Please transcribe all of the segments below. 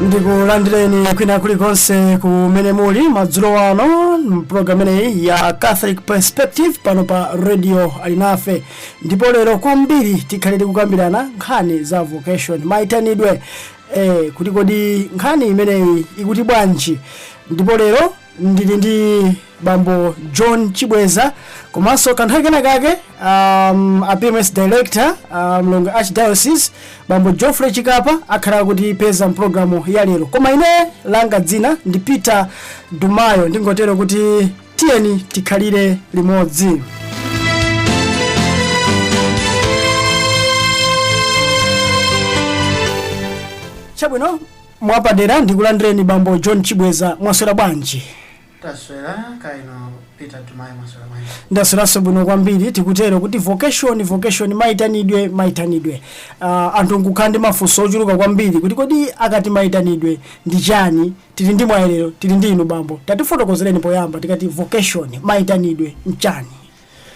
ndikulandireni kwina kulikonse kumene muli madzulo ano mpulogalamu imeneyi ya catholic perspective pano pa radio alinafe ndipo lero kwambiri tikhale tikukambirana nkhani za vocation maitanidwe eh, kuti kodi nkhani imeneyi ikuti bwanji ndipo lero ndili ndi bambo john chibweza komanso kanthawi kena kake um, a pms director uh, mu Lilongwe archdiocese bambo geoffrey chikapa akhala akutipeza mpulogalamu ya lero koma ine langa dzina ndi peter dumayo ndingotero kuti tiyeni tikhalire limodzi chabwino Mwapadera ndikulandireni bambo John Chibweza mwaswera bwanji? Taswera kaya inu Peter Dumayo mwaswera bwanji? Ndasweranso bwino kwambiri tikutero kuti vocation vocation maitanidwe maitanidwe uh, anthu nkukhala ndi mafunso ochuluka kwambiri kuti kodi akati maitanidwe ndi chani tili ndi mwayi lero tili ndi inu bambo tatifotokozereni poyamba tikati vocation maitanidwe nchani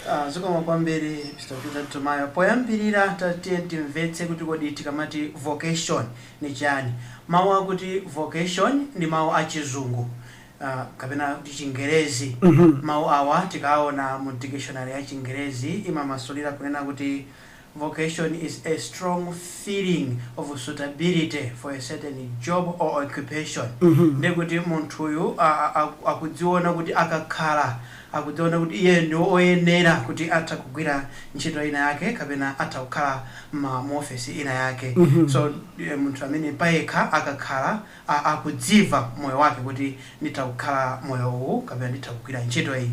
Ah, zikomo kwambiri Mr. Peter Dumayo. Poyambirira tatiye timvetse kuti kodi tikamati vocation ni chani. Mawu akuti vocation ndi mawu a chizungu ah, kapena kuti chingerezi. Mawu awa tikaona mu dictionary ya chingerezi imamasulira kunena kuti Vocation is a strong feeling of suitability for a certain job or occupation ndekuti munthuyu a- a- a- akudziona kuti akakhala akudziona kuti iye ndi oyenera kuti atha kugwira ntchito ina yake kapena atha kukhala ma- mu ofesi ina yake so eh, munthu amene payekha akakhala a- akudzimva moyo wake kuti nditha kukhala moyo uwu kapena nditha kugwira ntchito iyi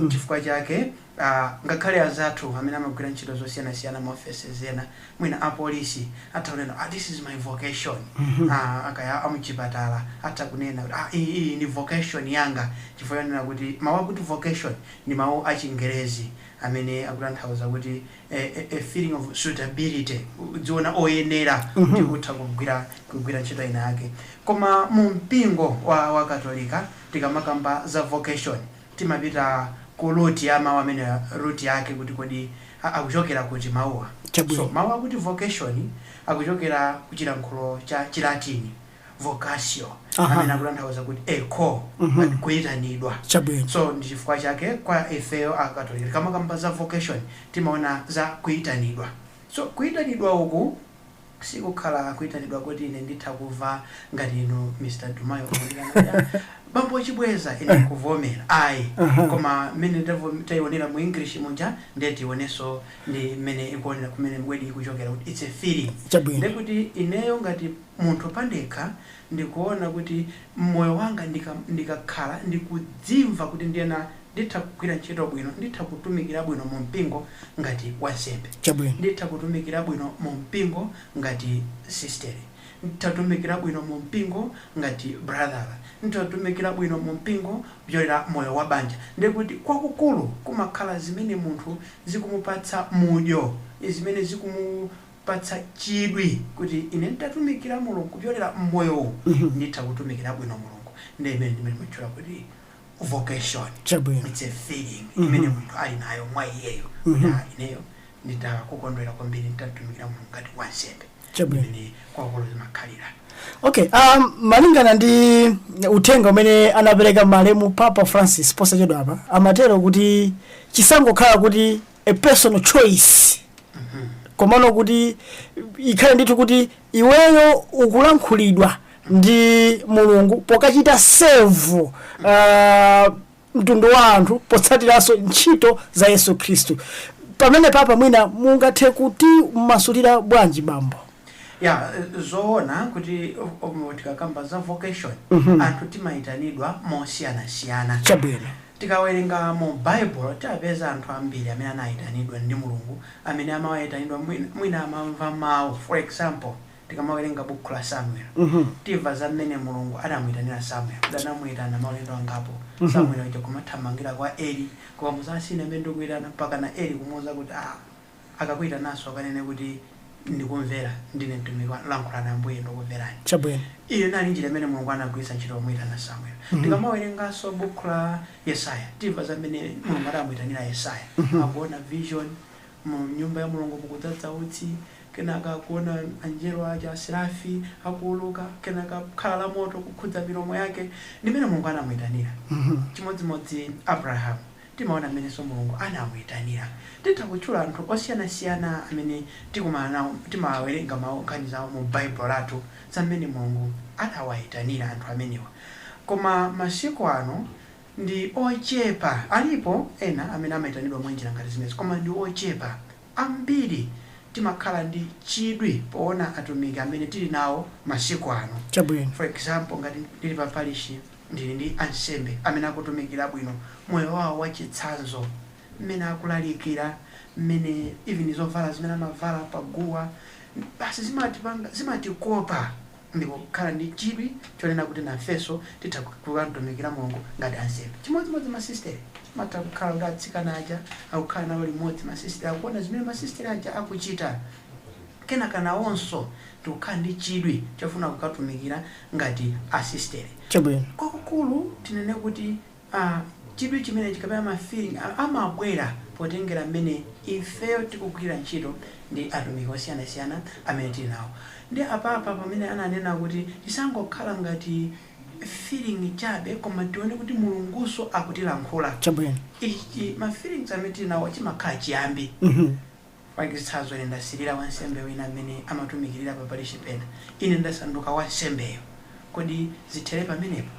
chifukwa chake a Ngakhale anzathu amene amagwira ntchito zosiyanasiyana ma offices ena mwina a police atha kunena ah this is my vocation ah kaya a mchipatala atha kunena kuti ah iyi iyi ndi vocation yanga chifukwa chonena kuti mau akuti vocation ndi mau a chingerezi amene akutanthauza kuti a a feeling of suitability kudziona oyenera kuti utha kugwira kugwira ntchito inayake koma mu mpingo wa wa Katolika tikamakamba za vocation timapita ku root ya mau amenewa root yake kuti kodi akuchokera kuti mauwa. So mau akuti vocation akuchokera ku chilankhulo cha Chilatini vocatio amene akutanthauza kuti a call like kuitanidwa. So ndi chifukwa chake kwa ifeyo a Katolika tikamakamba za vocation timaona za kuitanidwa. So kuitanidwa uku. sikukhala kuitanidwa kuti ine nditha kuva ngati inu Mr Dumayo bambo chibweza ine kuvomera ayi koma mmene tavo taionera mu English muja nde tiionenso ndi mmene ikuonera kumene word ikuchokera kuti it's a feeling Chabwino. ndekuti ineyo ngati munthu pandekha ndikuona kuti mmoyo wanga ndika ndikakhala ndikudzimva kuti ndiyena Nditha kugwira ntchito bwino. Nditha kutumikira bwino mu mpingo ngati wansembe. Chabwino. Nditha kutumikira bwino mu mpingo ngati sisteri. Nditha kutumikira bwino mu mpingo ngati brother. Nditha kutumikira bwino mu mpingo kupyolera moyo wa banja. Ndiye kuti kwakukulu kumakhala zimene munthu zikumupatsa mudyo, zimene zikumupatsa chidwi kuti ine nditatumikira Mulungu kupyolera mmoyo uwu nditha kutumikira bwino Mulungu. Nde imene timatchula kuti. vocation chabwino it's a feeling imene munthu ali nayo mwa iyeyo kuti "Ah, ineyo nditha kukondwera kwambiri nditatumikira mulungu ngati wansembe Chabwino. imene kwakulu zimakhalira okay um, malingana ndi uthenga umene anapereka malemu papa francis posachedwa apa amatero kuti chisangokhala kuti a personal choice komano kuti ikhale ndithu kuti iweyo ukulankhulidwa ndi mulungu pokachita serve uh, mtundu wa anthu potsatiranso ntchito za yesu khristu pamene papa mwina mungathe kutimasulira bwanji bambo ya zoona kuti um, tikakamba za vocation anthu timayitanidwa mosiyanasiyana chabwino Tikawerenga mu Baibulo, timapeza anthu ambiri amene anaitanidwa ndi Mulungu, amene amaitanidwa mwina, mwina amamva mau. For example, tikamawerenga bukhu la Samuel, timva za mmene Mulungu anamuitanira Samuel, kuti anamuitana maulendo angapo, Samuel uja kumathamangira kwa Eli, kukamuuza, ah, sine amene ndikuitana, mpakana Eli kumuuza kuti, ah, Akakuitananso ukanene kuti, Ndikumvera, ndine mtumiki wanu. Lankhulani Ambuye, ndikuverani. Chabwino. Iyo inali njira imene Mulungu anagwiritsa ntchito pomuitana Samuel. Tikamawerenganso bukhu la Yesaya, timva za mmene Mulungu adamuitanira Yesaya. Akuona vision, mu nyumba ya Mulungu mukudzadza utsi, kenaka akuona Angelo aja, Aserafi, akuuluka, kenaka khala la moto kukhudza milomo yake. Ndi mmene Mulungu anamuitanira. Chimodzimodzi Abraham. Timaona mmenenso Mulungu anamuitanira. Titha kutchula anthu osiyanasiyana amene tikumana nawo, timawerenga mawu, nkhani zawo mu Baibulo lathu za mmene Mulungu anawaitanira anthu amenewa. Koma masiku ano ndi ochepa. Alipo ena amene amaitanidwa mwa njira ngati zimenezi koma ndi ochepa. Ambiri timakhala ndi chidwi poona atumiki amene tili nawo masiku ano. Chabwino. For example, ngati ndili pa parishi. Ndili ndi ansembe amene akutumikira bwino moyo wawo wa chitsanzo, mmene akulalikira, mmene even zovala zimene amavala pa guwa, basi zimatipanga, zimatikopa ndi kukhala ndi chidwi chonena kuti nafenso titha kukamtumikira Mulungu ngati ansembe. Chimodzimodzi ma sistere, amatha kukhala kuti atsikana aja akukhala nawo limodzi ma sistere, akuona zimene ma sistere aja akuchita, kenaka nawonso ndikukhala ndi chidwi chofuna kukatumikira ngati asistere. Chabwino. Kwakukulu tinene kuti a, chidwi chimenechi kapena ma feeling wa amabwera potengera mmene ifeyo tikugwirira ntchito ndi atumiki osiyanasiyana amene tili nawo. Ndiye apapa pamene ananena kuti chisangokhala ngati feeling chabe koma tione kuti Mulungunso akutilankhula. Chabwino. Ichi, ma feelings amene tili nawowa chimakhala chiyambi. Mwacitsanzo, ine ndasilila wansembe wina amene amatumikilila pa parishi pena. Ine ndasanduka wansembeyo. Kodi zithele pamenepo?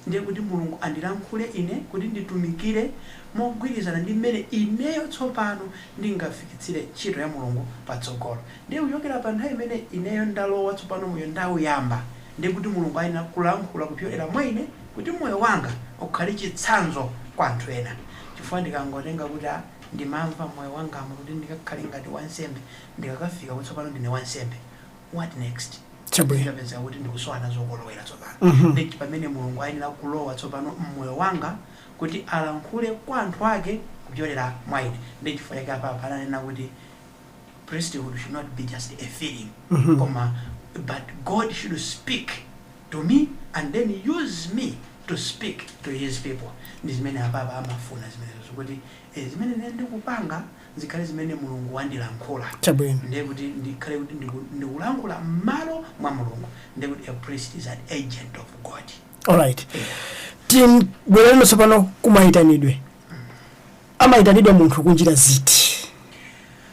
Ndiye kuti Mulungu andilankhule ine kuti nditumikile mogwilizana ndi mmene ineyo tsopano ndingafikitsile ntchito ya Mulungu patsogolo. Ndiye kucokela pa nthawi imene ineyo ndalowa tsopano moyo ndauyamba, ndiye kuti Mulungu ayenela kulankhula kupyolela mwa ine kuti moyo wanga ukhale citsanzo kwa anthu ena. Cifukwa ndikangotenga kuti a. Ndimamva m'moyo wangamu kuti ndikakhale ngati wansembe ndikakafika kuti tsopano ndine wansembe. What next? Chabwino. Ndipezeka kuti ndikusowa nazo kolowera tsopano. Ndi pamene Mulungu ayenera kulowa tsopano m'moyo wanga kuti alankhule kwa anthu ake kupyolera mwa ine. Ndiye chifukwa chake apapa ananena kuti. priesthood should not be just a feeling koma but God should speak to me and then use me to speak to his people ndi zimene apapa amafuna zimenezozo kuti eh, zimene ine ndikupanga zikhale zimene mulungu wandilankhula Chabwino. ndiye kuti ndikhale kuti ndiku- ndikulankhula m'malo mwa mulungu ndiye kuti a priest is an agent of god alright tibwerereno tsopano kumayitanidwe amayitanidwa munthu kunjira ziti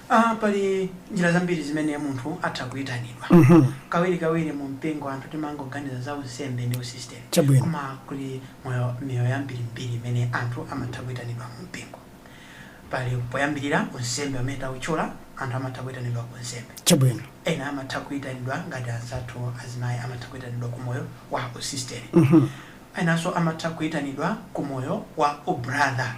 Ah, pali njira zambiri zimene munthu atha kuyitanidwa Mhm. kawiri kawiri mu mpingo anthu timangoganiza za unsembe ndi usisiteri Chabwino. koma kuli moyo miyoyo yambirimbiri imene anthu amatha kuyitanidwa mu mpingo pali poyambirira unsembe umene tawutchula anthu amatha kuyitanidwa ku unsembe chabwino ena amatha kuyitanidwa ngati anzathu azimayi amatha kuyitanidwa ku moyo wa usisiteri Mhm. Enanso amatha kuitanidwa ku moyo wa u brother.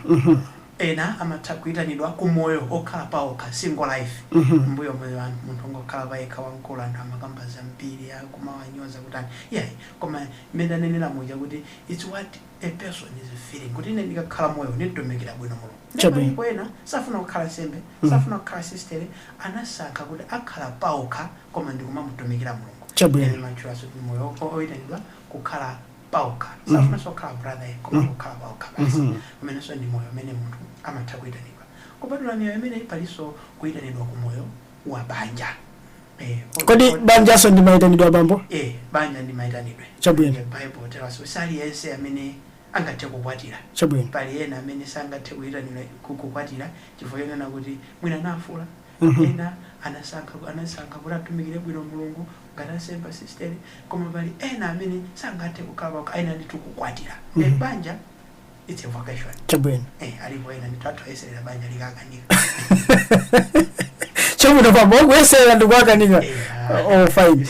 Ena amatha kuitanidwa ku moyo okhala paokha, single life. M'mbuyomu anthu munthu ongokhala payekha wamkulu anthu amakamba zambiri akumawanyoza kutani. Iyayi koma mmene tanenera muja kuti it's what a person is feeling kuti ine ndikakhala moyo uwu ndimtumikira bwino Mulungu. Nde Chabwino. palipo ena safuna kukhala ansembe, safuna kukhala sistere anasankha kuti akhala paokha koma ndikumamutumikira Mulungu. Chabwino. Ena amatchulanso kuti moyo o- oitanidwa kukhala paokha. Safunanso kukhala brother ayi, koma kukhala paokha basi, umenenso ndi moyo umene munthu amatha kuitanidwa. Kupatula miyoyo imeneyi, palinso kuitanidwa ku moyo wa banja. Eh, o- kodi o- banjanso ndi maitanidwe abambo Eh, banja ndi maitanidwe. Chabwino. Eh, Bible tells us, si aliyense amene angathe kukwatira. chabwino Pali ena amene sangathe kuitanidwa ku- kukwatira chifukwa chonena kuti mwina nafula Anthu ena anasankha anasankha kuti atumikire bwino Mulungu ngati ansembe asistere, koma pali ena amene sangathe kukhala paokha, ayenera ndithu kukwatira. Mm -hmm. Banja it's a vocation. Chabwino. Eh, alipo ena ndithu anthu ayeserera banja likakanika. Chabwino bambo kuyeserera ndikuwakanika. Eh, oh fine.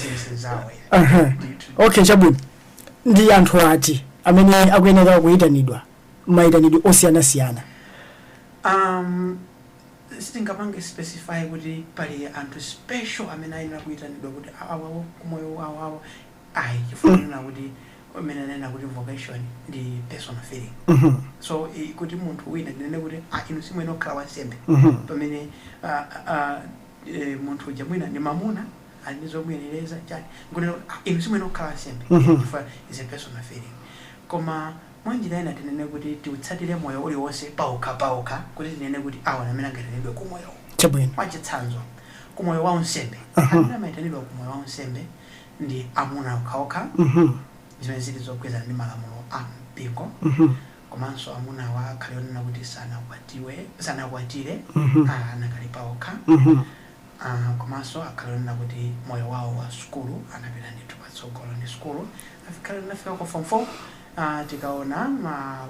Uh -huh. Okay, chabwino. Ndi anthu ati amene akuyenera kuyitanidwa mayitanidwe osiyana-siyana. Um, Sitingapange specify kuti pali anthu special amene ayenera kuitanidwa kuti awa ku moyo wawawo ayi chifukwa kunena kuti mmene ananena kuti vocation ndi personal feeling so i- kuti munthu wina ndinene kuti ah, inu simwene okhala wansembe pamene ah, ah, eh, munthu uja mwina ndi mamuna ali ndi zomuyenereza chani nkunena kuti ah, inu simwene okhala wansembe Mhm. chifukwa is a personal feeling koma Mwa njira ina tinene kuti tiutsatire moyo uliwonse paokha paokha kuti tinene kuti awa ndi amene angaitanidwe ku moyowu. Chabwino. Mwa chitsanzo, ku moyo wa unsembe, amene amaitanidwa ku moyo wa unsembe ndi amuna okha okha, zimene zili zogwirizana ndi malamulo a mpingo, komanso amunawa akhale onena kuti sanakwatiwe, sanakwatire, anakali paokha. Aaah komaso akhale onena kuti moyo wawo wa sukulu anapita ndithu patsogolo ndi sukulu akhale anafika kwa form 4 aah tikaona ma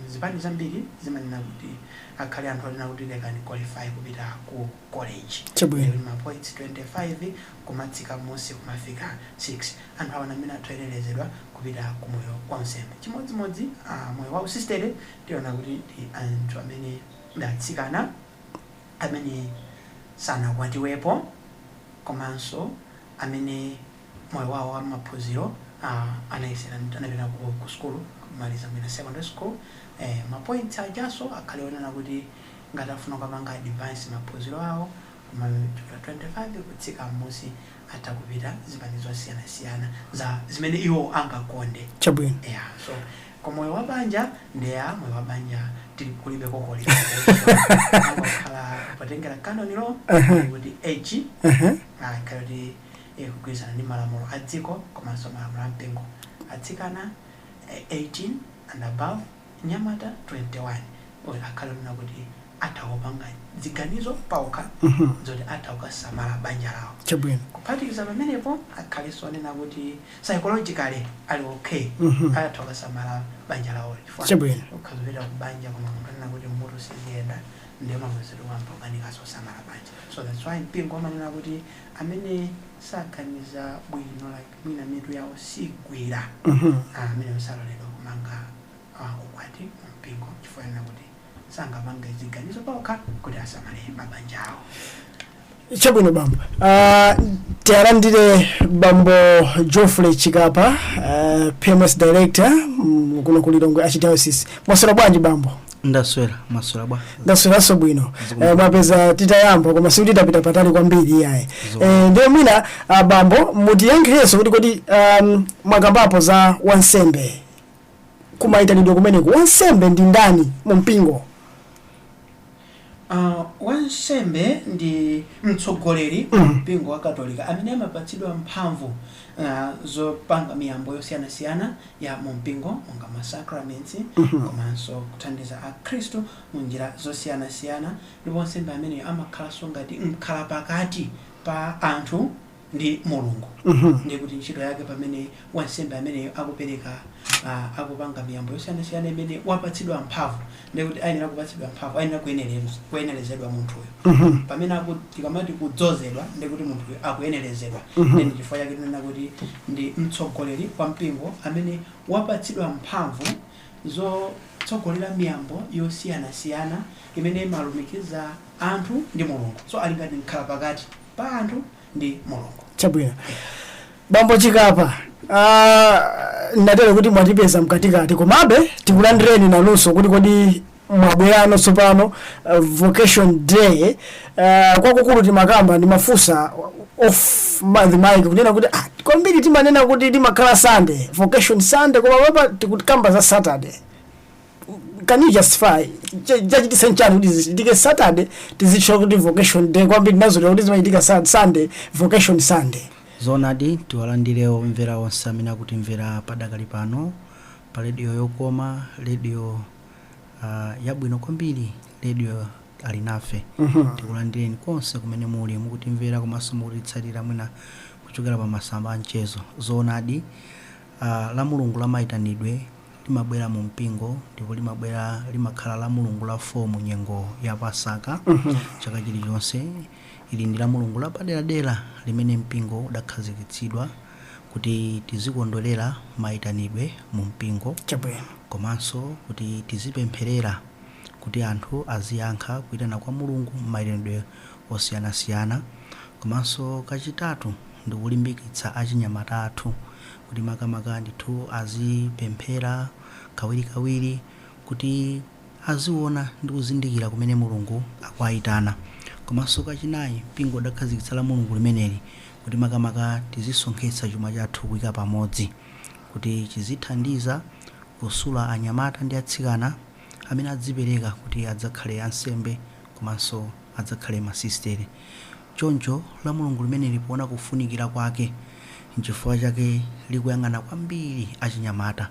zipani zambiri zimanena kuti akhale anthu onena kuti they can qualify kupita ku college Chabwino. even ma points 25 kumatsika mmusi kumafika 6 anthu awa ndamene ali oyenelezedwa kupita ku moyo wa unsembe chimodzimodzi aah moyo wa usisitele tiona kuti ndi anthu amene ndi atsikana amene sanakwatiwepo komanso amene moyo wawo wa maphunziro anayesera anapita ku ku sukulu kumaliza mwina secondary school eh ma points ajaso akhale onena kuti ngati afuna kupanga advance maphunziro awo kuma 25 kutsika mmusi atha kupita zipani zosiyanasiyana za zimene iwo angakonde Chabwino. yeah so Ku moyo wa banja ndeya moyo wa banja tili kulibe koma lingakhale potengera canon law kuti age akhale kuti ikugwirizana ndi malamulo a dziko komanso malamulo a mpingo atsikana eh, 18 and above nyamata 21 kuti akhale onena kuti atha kupanga ziganizo paokha zoti atha kukasamala banja lawo chabwino kuphatikiza pamenepo akhalenso onena kuti psychologically ali ok atha kukasamala banja lawolo chifukwa Chabwino. ukhoza kupita ku banja koma munthu anena kuti mutu siziyenda ndiye mamuna zedi uyamba ukanikanso kusamala banja so that's why mpingo amanena kuti amene saganiza bwino like mwina mitu yawo sigwira Mhm. Ah, amene musaloledwa kumanga ah, ukwati mu mpingo chifukwa anena kuti sangapange ziganizo paokha kuti asamale mabanja awo chabwino bambo uh, tialandire bambo geoffrey chikapa uh, pms director mm, kuno ku lilongwe archdiocese mwaswera bwanji bambo ndaswera mwaswera bwa ndasweranso bwino eh, mwapeza titayamba koma sikuti tapita patali kwambiri iyayi Zo. eh, ndiye mwina ah, bambo mutiyankhirenso kuti kodi um, mwakambapo za wansembe ku maitanidwe kumeneku? Wansembe ndi ndani mu mpingo? Uh, wansembe ndi mtsogoleri mm. mu mpingo wa Katolika amene amapatsidwa mphamvu uh, zopanga miyambo yosiyanasiyana ya mu mpingo monga masakramenti mm -hmm. komanso kuthandiza Akhristu mu njira zosiyanasiyana ndipo wansembe ameneyo amakhalanso ngati mkhalapakati pa anthu ndi Mulungu. Ndiye kuti ntchito yake pamene wansembe ameneyo akupereka, a, akupanga miyambo yosiyanasiyana imene wapatsidwa mphamvu, ndiye kuti ayenera kupatsidwa mphamvu, ayenera kuyenerenz, kuyenerezedwa munthuyo. Pamene aku, tikamati kudzozedwa, ndiye kuti munthuyo akuyenerezedwa. Ndiye ndi chifukwa chake tinena kuti ndi mtsogoleri wa mpingo amene wapatsidwa mphamvu zotsogolera miyambo yosiyanasiyana imene imalumikiza anthu ndi Mulungu. So ali ngati mkhalapakati. pa anthu ndi mulungu chabwino bambo chikapa ah, ngakhale kuti mwatipeza mkatikati komabe tikulandireni nanunso kuti kodi mwabwerano tsopano uh, vocation day uh, kwakukulu timakamba ndimafunsa off ma- the mic kunena kuti ah, kwambiri timanena kuti imakhala sunday vocation sunday koma apa tikukamba za saturday can you justify Ch- chachititsa nchani kuti zichitike saturday tizitchula kuti vocation day kwambiri ndinazolowera kuti zimachitika sa- sunday vocation sunday zoonadi tiwalandire omvera onse amene akutimvera padakali pano pa redio yokoma redio uh, yabwino kwambiri redio alinafe tikulandireni konse kumene muli mukutimvera komanso mukutitsatira mwina kuchokera pa masamba a mchezo zoonadi A. Lamulungu la Maitanidwe limabwera mu mpingo ndipo limabwera limakhala Lamulungu la 4 mu nyengo ya Pasaka chaka chilichonse. Ili ndi Lamulungu lapaderadera limene mpingo udakhazikitsidwa kuti tizikondwerera maitanidwe mu mpingo Chabwino. komanso kuti tizipempherera kuti anthu aziyankha kuitana kwa Mulungu m'maitanidwe osiyanasiyana. Komanso kachitatu ndi kulimbikitsa achinyamata athu kuti makamaka ndithu azipemphera kawirikawiri kuti aziona ndi kuzindikira kumene Mulungu akuwaitana. Komanso kachinayi, mpingo udakhazikitsa la Mulungu limeneli kuti makamaka tizisonkhetsa chuma chathu kuika pamodzi kuti chizithandiza kusula anyamata ndi atsikana amene adzipereka kuti adzakhale ansembe komanso adzakhale masisitere. Choncho lamulungu limeneli poona kufunikira kwake nchifukwa chake likuyang'ana kwambiri achinyamata.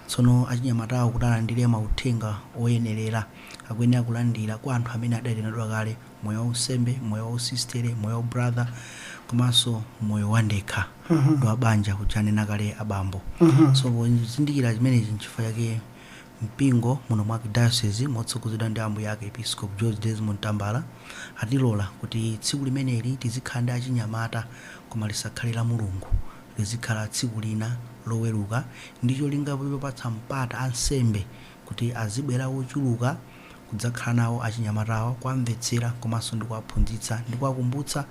Tsono achinyamatawo kuti alandire mauthenga oyenerera, akuyenera kulandira kwa anthu amene adaitanidwa kale, moyo waunsembe, moyo wausisitere, moyo waubrather komanso moyo wandekha ndi wabanja uja anena kale abambo. So pozindikira chimenechi nchifukwa chake Mpingo muno mu Arkidayosizi motsogozedwa ndi Ambuye Arkiepiskopi George Desmond Tambala atilola kuti tsiku limeneli tizikhala ndi achinyamata koma lisakhale lamulungu, lizikhala tsiku lina loweruka ndi cholinga chopatsa mpata ansembe kuti azibwera ochuluka. kudzakhala nawo achinyamatawa, kuwamvetsera komanso ndi kuwaphunzitsa ndi kuwakumbutsa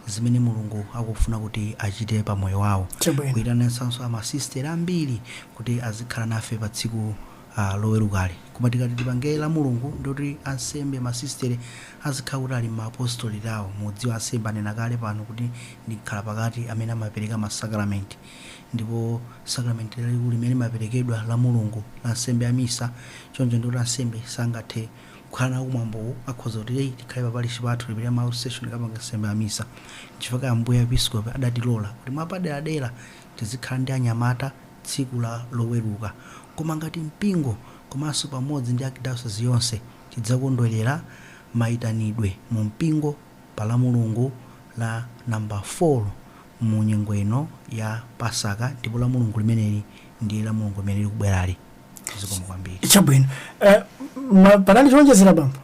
zimene Mulungu akufuna kuti achite pa moyo wawo. Kuitanitsanso amasisitere ambiri kuti azikhala nafe pa tsiku ah, lowerukali. Koma tikati tipange la Mulungu ndiye kuti ansembe masisitere azikhala kuti ali m'maapostolate awo. Mudziwa ansembe anena kale pano kuti ndi mkhalapakati amene amapereka masakalamenti. Ndipo sakramenti lalikulu limene limaperekedwa la Mulungu la nsembe ya misa, choncho ndiye kuti ansembe sangathe kukhala nawo kumwambowu, akhoza kuti eh, tikhale pa parishi pathu tipite ma outstation tikapange nsembe ya misa. Nchifukwa Ambuye Episkopi adatilola kuti mwapaderadera tizikhala ndi achinyamata tsiku la Loweruka. Koma ngati mpingo komanso pamodzi ndi Archdiocese yonse tidzakondwerera maitanidwe mu mpingo. pa Lamulungu la namba 4 mu nyengo ino ya Pasaka, ndipo Lamulungu limeneli ndi Lamulungu limene likubwerali. Zikomo kwambiri. chabwino Eh, ma- panali chowonjezera bambo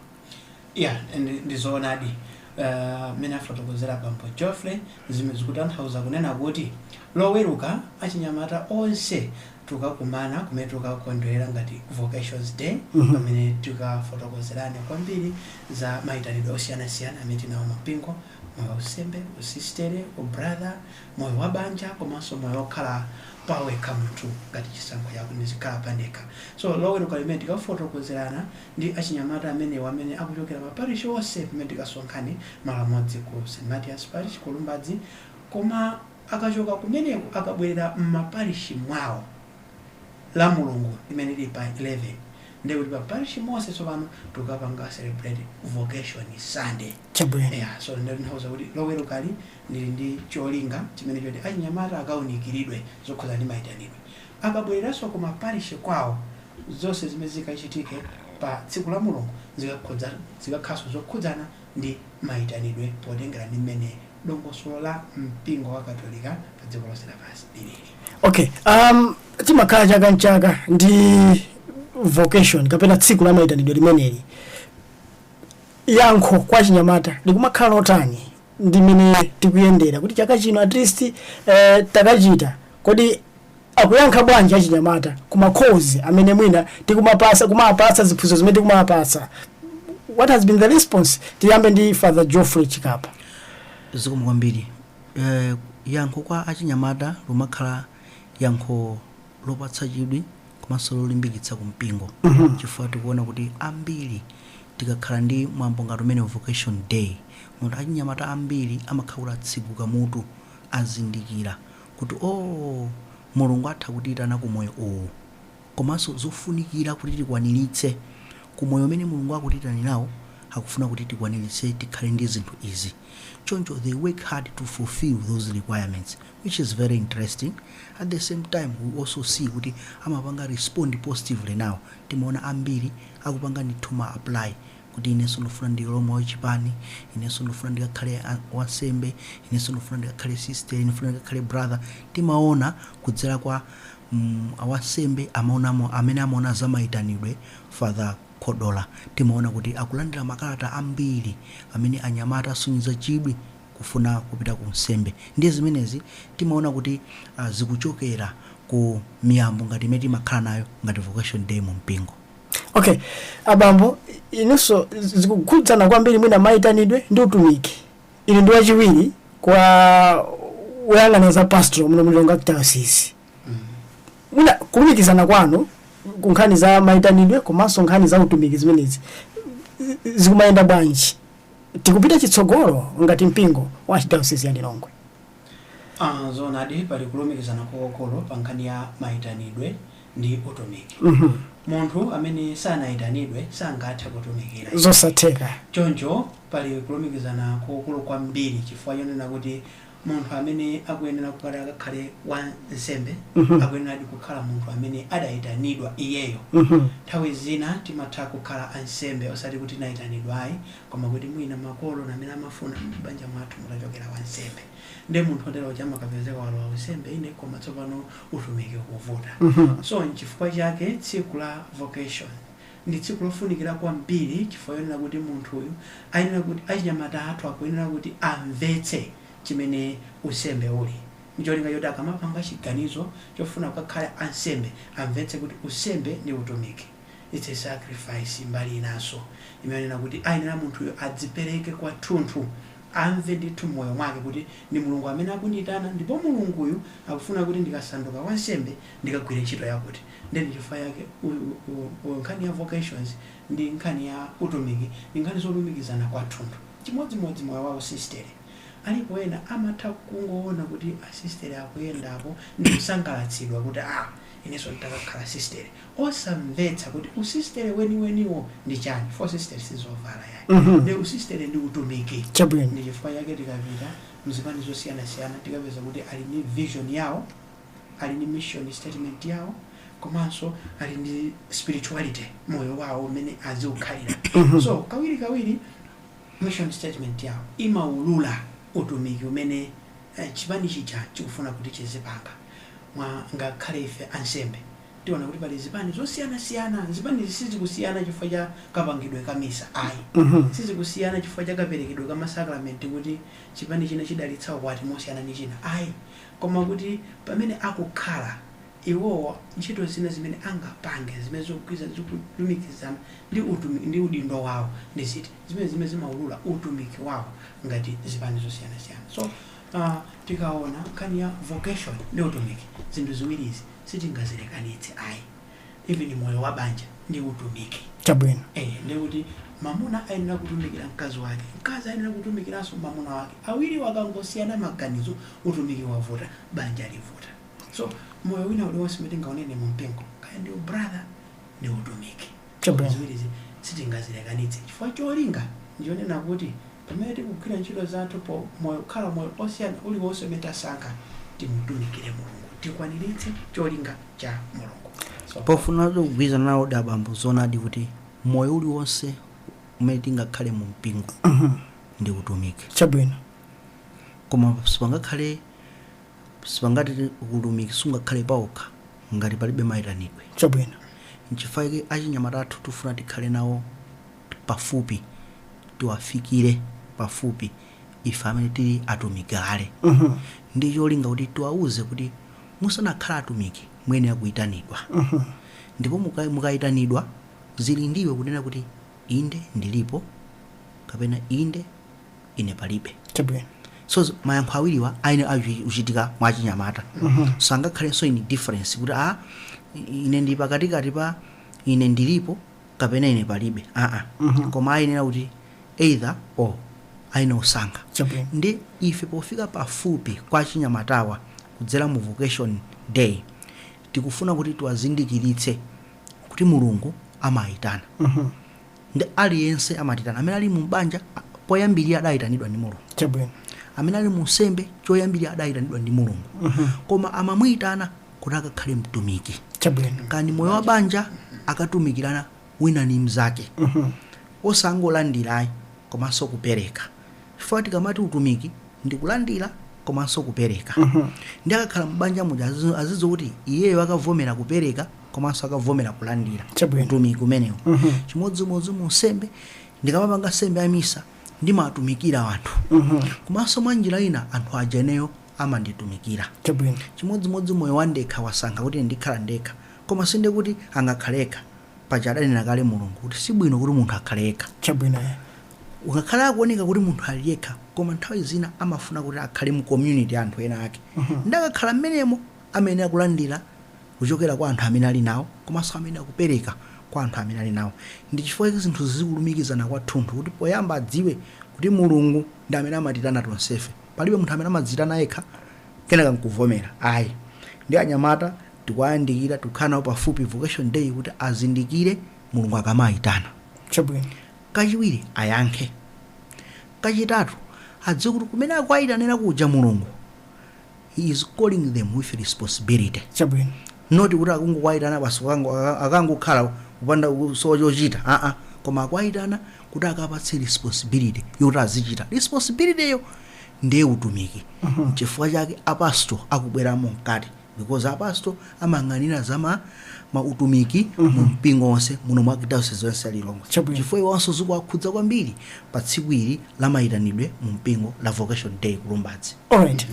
ya ndi- ndizoonadi Eh, mmene afotokozera bambo Geoffrey zimene zikutanthauza kunena kuti loweruka achinyamata onse tukakumana kumene tukakondwerera ngati vocations day Mhm. pamene tikafotokozerane kwambiri za mayitanidwe osiyanasiyana amene tinawo mumpingo moyo wausembe usistere ubrother moyo wa banja komanso moyo wokhala pawekha munthu ngati chisankho chako ndizikhala pandekha so loweruka limeneli tikafotokozerana ndi achinyamata amenewa amene akuchokera m'maparish onse pamene tikasonkhane malo amodzi ku St Matthias parish ku Lumbadzi koma Akachoka kumeneko akabwerera mma parish mwawo lamulungu limene lili pa 11 ndiye kuti pa parish monse tsopano tikapanga celebrate vocation Sunday. Chabwino. Eya, so ndiye zitanthauza kuti lowerukali lili ndi cholinga chimene choti achinyamata akaunikiridwe zokhudzana ndi maitanidwe. Akabwereranso ku ma parish kwawo zonse zimene zikachitike pa tsiku lamulungu zikakhudza zikakhalanso zokhudzana ndi maitanidwe potengera ndi mmene dongosolo la mpingo wa katolika pa dziko lonse lapansi lilili okay um, timakhala chaka mchaka ndi vocation kapena tsiku la maitanidwe limeneli yankho kwa achinyamata likumakhala lotani ndi mmene tikuyendera kuti chaka chino at least eh, takachita kodi akuyankha bwanji achinyamata ku ma calls amene mwina tikumawapatsa kumawapatsa ziphunzitso zimene tikumawapatsa what has been the response tiyambe ndi father geoffrey chikapa zikomo kwambiri eh, yankho kwa achinyamata likumakhala yankho lopatsa chidwi komanso lolimbikitsa ku mpingo Mhm. chifukwa tikuona kuti ambiri tikakhala ndi mwambo ngati umenewu vocation day munthu achinyamata ambiri amakhala kuti atseguka mutu azindikira kuti, oh, Mulungu atha kutiitana ku moyo uwu, komanso zofunikira kuti tikwaniritse ku moyo umene Mulungu akutiitanirawo, akufuna kuti tikwaniritse tikhale ndi zinthu izi. Choncho they work hard to fulfill those requirements, which is very interesting. At the same time, we also see kuti amapanga respond positively now. Timaona ambiri akupanga ndithu apply kuti inenso ndikufuna ndilowe m'chipani inenso ndikufuna ndikakhale a- wansembe inenso ndikufuna ndikakhale sister ndikufuna ndikakhale brother timaona kudzera kwa mm, awansembe amene amaona za mayitanidwe father kodola timaona kuti akulandira makalata ambiri amene anyamata asonyeza chidwi kufuna kupita ku nsembe ndiye zimenezi timaona kuti uh, zikuchokera ku miyambo ngati imene timakhala nayo ngati vocation day mu mpingo okay abambo inunso zikukhudzana kwambiri mwina mayitanidwe ndi utumiki inu ndi wachiwiri kwa woyang'anira za pastoral muno mu lilongwe archdiocese mwina kulumikizana kwanu ku nkhani za mayitanidwe komanso nkhani za utumiki zimenezi zi- zikumayenda bwanji tikupita chitsogolo ngati mpingo wa archdiocese ya lilongwe Ah, zoonadi pali kulumikizana kwakukulu pa nkhani ya mayitanidwe ndi utumiki munthu amene sanayitanidwe sangathe kutumikira iye. zosatheka choncho pali kulumikizana kukulu kwambiri chifukwa chonena kuti munthu amene akuyenera kukhala akakhale wa nsembe akuyeneradi kukhala munthu amene adayitanidwa iyeyo nthawi zina timatha kukhala ansembe osati kuti tinayitanidwa ayi koma kuti mwina makolo ndi amene amafuna kuti m'banja mwathu mutachokera wansembe ndi munthu otero uja amakapezeka walowa unsembe ine koma tsopano utumiki ukuvuta so nchifukwa chake tsiku la vocation ndi tsiku lofunikira kwambiri chifukwa chonena kuti munthuyu ayenera kuti achinyamata athu akuyenera kuti amvetse chimene unsembe uli ncholinga choti akamapanga chiganizo chofuna kukakhala ansembe amvetse kuti unsembe ndi utumiki Its a sacrifice mbali inanso imanena kuti ayenera munthuyo adzipereke kwathunthu, amve ndithu mmoyo mwake kuti ndi Mulungu amene akundiitana ndipo Mulunguyu akufuna kuti ndikasanduka wansembe ndikagwire ntchito yakuti. Nde ndi chifukwa chake nkhani ya vocations ndi nkhani ya utumiki ndi nkhani zolumikizana kwathunthu. Chimodzimodzi moyo wa usistere. Alipo ena amatha kungoona kuti asistere akuyendapo ndikusangalatsidwa kuti ah inenso ntakakhala sistere. osamvetsa kuti usistere weniweniwo ndi chani usistere sizovala yayi mm -hmm. ndi usistere ndi utumiki chabwino ndi chifukwa chake tikapita mzipani zosiyanasiyana tikapeza kuti ali ndi vision yawo ali ndi mission statement yawo komanso ali ndi spirituality moyo wawo umene aziukhalira mhm. so kawiri kawiri mission statement yawo imaulula utumiki umene eh, chipani chija chikufuna kuti chizipanga mwa ngakhale ife ansembe tiona kuti pali zipani zosiyanasiyana. Zipanizi sizikusiyana chifukwa cha kapangidwe ka misa ayi. Sizikusiyana chifukwa cha kaperekedwe ka masakramenti kuti chipani china chidalitsa ukwati mosiyana ndi china ayi. Koma kuti pamene akukhala iwowo ntchito zina zimene angapange zimene zikugwirizana, zikulumikizana ndi udindo wawo ndi ziti. Zimenezi zimene zimaulula utumiki wawo ngati zipani zosiyanasiyana. So, uh, tikaona nkhani ya vocation ndi utumiki zinthu ziwiri izi sitingazilekanitse ayi even moyo wa banja ndi utumiki chabwino eh ndiye kuti mamuna ayenera kutumikira mkazi wake mkazi ayenera kutumikiranso mamuna wake awiriwa akangosiyana maganizo utumiki wavuta banja livuta so moyo wina uliwonse umene tingaunene mu mpingo kaya ndi ubrother ndi utumiki Chabwino. Ziwirizi sitingazilekanitse chifukwa cholinga ndi chonena kuti pamene tikugwira ntchito zathu po moyo kukhala moyo osiyana uliwonse umene tasankha timutumikire Mulungu, tikwaniritse cholinga cha Mulungu. So, Pofunatu kugwirizana nawo ndi abambo zoonadi kuti moyo uliwonse umene tingakhale mu mpingo ndi utumiki. Chabwino. Koma sipangakhale Sipangati utumiki sungakhale paokha ngati palibe maitanidwe. Chabwino. Nchifukwa chake achinyamata athu tifuna tikhale nawo pafupi, tiwafikire pafupi ife amene tili atumiki kale ndi cholinga kuti tiwauze kuti musanakhale atumiki muyenera kuitanidwa ndipo mukaitanidwa zili ndi iwe kunena kuti inde ndilipo kapena inde. ine palibe chabwino so z- mayankho awiriwa ayenera kuchitika mwa achinyamata sangakhalenso indifference kuti a ine ndi pakatikati pa ine ndilipo kapena ine palibe aa koma ayenera kuti either or ayenera kusankha chabwino ndi ife pofika pafupi kwa achinyamatawa kudzera mu vocation day tikufuna kuti tiwazindikiritse kuti mulungu amayitana Nde aliyense amatiyitana. Amene ali mu banja, poyambirira adayitanidwa ndi Mulungu. Chabwino. Amene ali mu unsembe, choyambirira adayitanidwa ndi Mulungu. Koma amamuyitana kuti akakhale mtumiki. Chabwino. Kaya ndi moyo wa banja, akatumikirana wina ndi mzake. Osangolandira ayi, komanso kupereka. chifukwa tikamati utumiki ndi kulandira komanso kupereka nde akakhala m'banja muja azizo- azidziwa kuti iyeyo akavomera kupereka komanso akavomera kulandira Chabwino. utumiki umenewu chimodzimodzi mu unsembe ndikamapanga nsembe ya misa ndimatumikira anthu komanso mwa njira ina anthu aja ineyo amanditumikira chabwino chimodzimodzi moyo wandekha wasankha kuti ndikhala ndekha koma si nde kuti angakhale yekha paja adanena kale mulungu kuti si bwino kuti munthu akhale yekha chabwino Ngakhale akuoneka kuti munthu ali yekha, koma nthawi zina amafuna kuti akhale mu community ya anthu ena ake. Nde akakhala mmenemo, amayenera kulandira kuchokera kwa anthu amene ali nawo, komanso amayenera kupereka kwa anthu amene ali nawo. Ndi chifukwa chake zinthuzi zikulumikizana kwathunthu, kuti poyamba adziwe kuti Mulungu ndi amene amatiitana tonsefe. Palibe munthu amene amadziitana yekha, kenaka nkuvomera, ayi. Nde anyamata tikuwayandikira, tikukhala nawo pafupi Vocation Day kuti azindikire Mulungu akamaitana. Chabwino. Kachiwiri ayankhe. Kachitatu adziwe kuti kumene akuwaitanira kuja Mulungu he is calling them with responsibility. Chabwino. Not kuti akungowaitana basi kukango akangokhala kupanda kusowa chochita aa koma akuwaitana kuti akapatse responsibility yoti azichita. Responsibility yo ndiye utumiki. Nchifukwa chake a pastor akubweramo mkati. because a pastor amayang'anira za ma mautumiki mu mpingo onse muno mu archdiocese yonse ya Lilongwe Chabwino. chifukwa iwonso zikuwakhudza kwambiri pa tsiku ili la mayitanidwe mu mpingo la vocation day ku Lumbadzi alright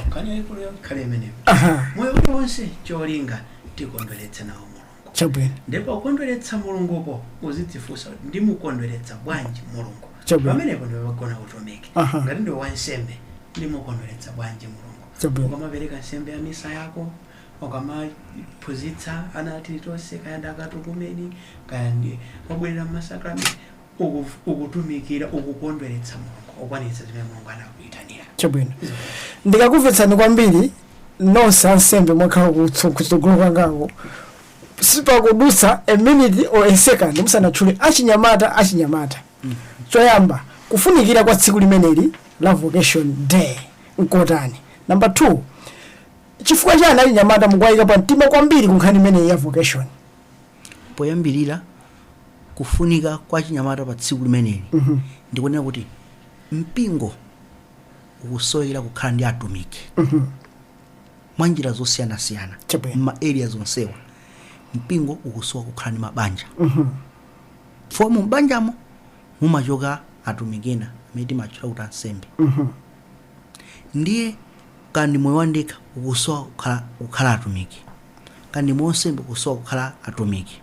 nkhani yayikulu ikhale imeneyo aha moyo uliwonse cholinga tikondweretse nawo mulungu chabwino ndipo kukondweretsa mulunguko uzidzifunsa kuti ndimukondweretsa bwanji mulungu Chabwino. pamenepo ndi pagona utumiki Aha. ngati ndiwe wansembe ndimukondweretsa bwanji mulungu Chabwino. ukamapereka nsembe ya misa yako ukamaphunzitsa ana a Tilitonse kaya ndi akatukumeni kaya ndi obwerera mmasakramenti uku- ukutumikira ukukondweretsa mulungu ukwaniritsa zimene mulungu anakuyitanira Chabwino. Ndikakumvetsani kwambiri nonse ansembe mwakhala kutso- kutsogolo kwangako sipakudutsa a minute or a second musanatchule achinyamata achinyamata Choyamba, kufunikira kwa tsiku limeneli la Vocation Day n'kotani? Namba 2, chifukwa chani achinyamata mukuwayika pa mtima kwambiri ku nkhani imeneyi ya Vocation? Poyambirira, kufunika kwa achinyamata pa tsiku limeneli ndi kunena kuti mpingo ukusowekera kukhala ndi atumiki mwa njira zosiyanasiyana Chabwino. m'ma areas onsewa. Mpingo ukusowa kukhala ndi mabanja. chifukwa mu m'banjamo mumachoka atumiki ena amene timatchula kuti ansembe ndiye kaya ndi moyo wandekha ukusowa kukhala, kukhala atumiki kaya ndi moyo wansembe ukusowa kukhala atumiki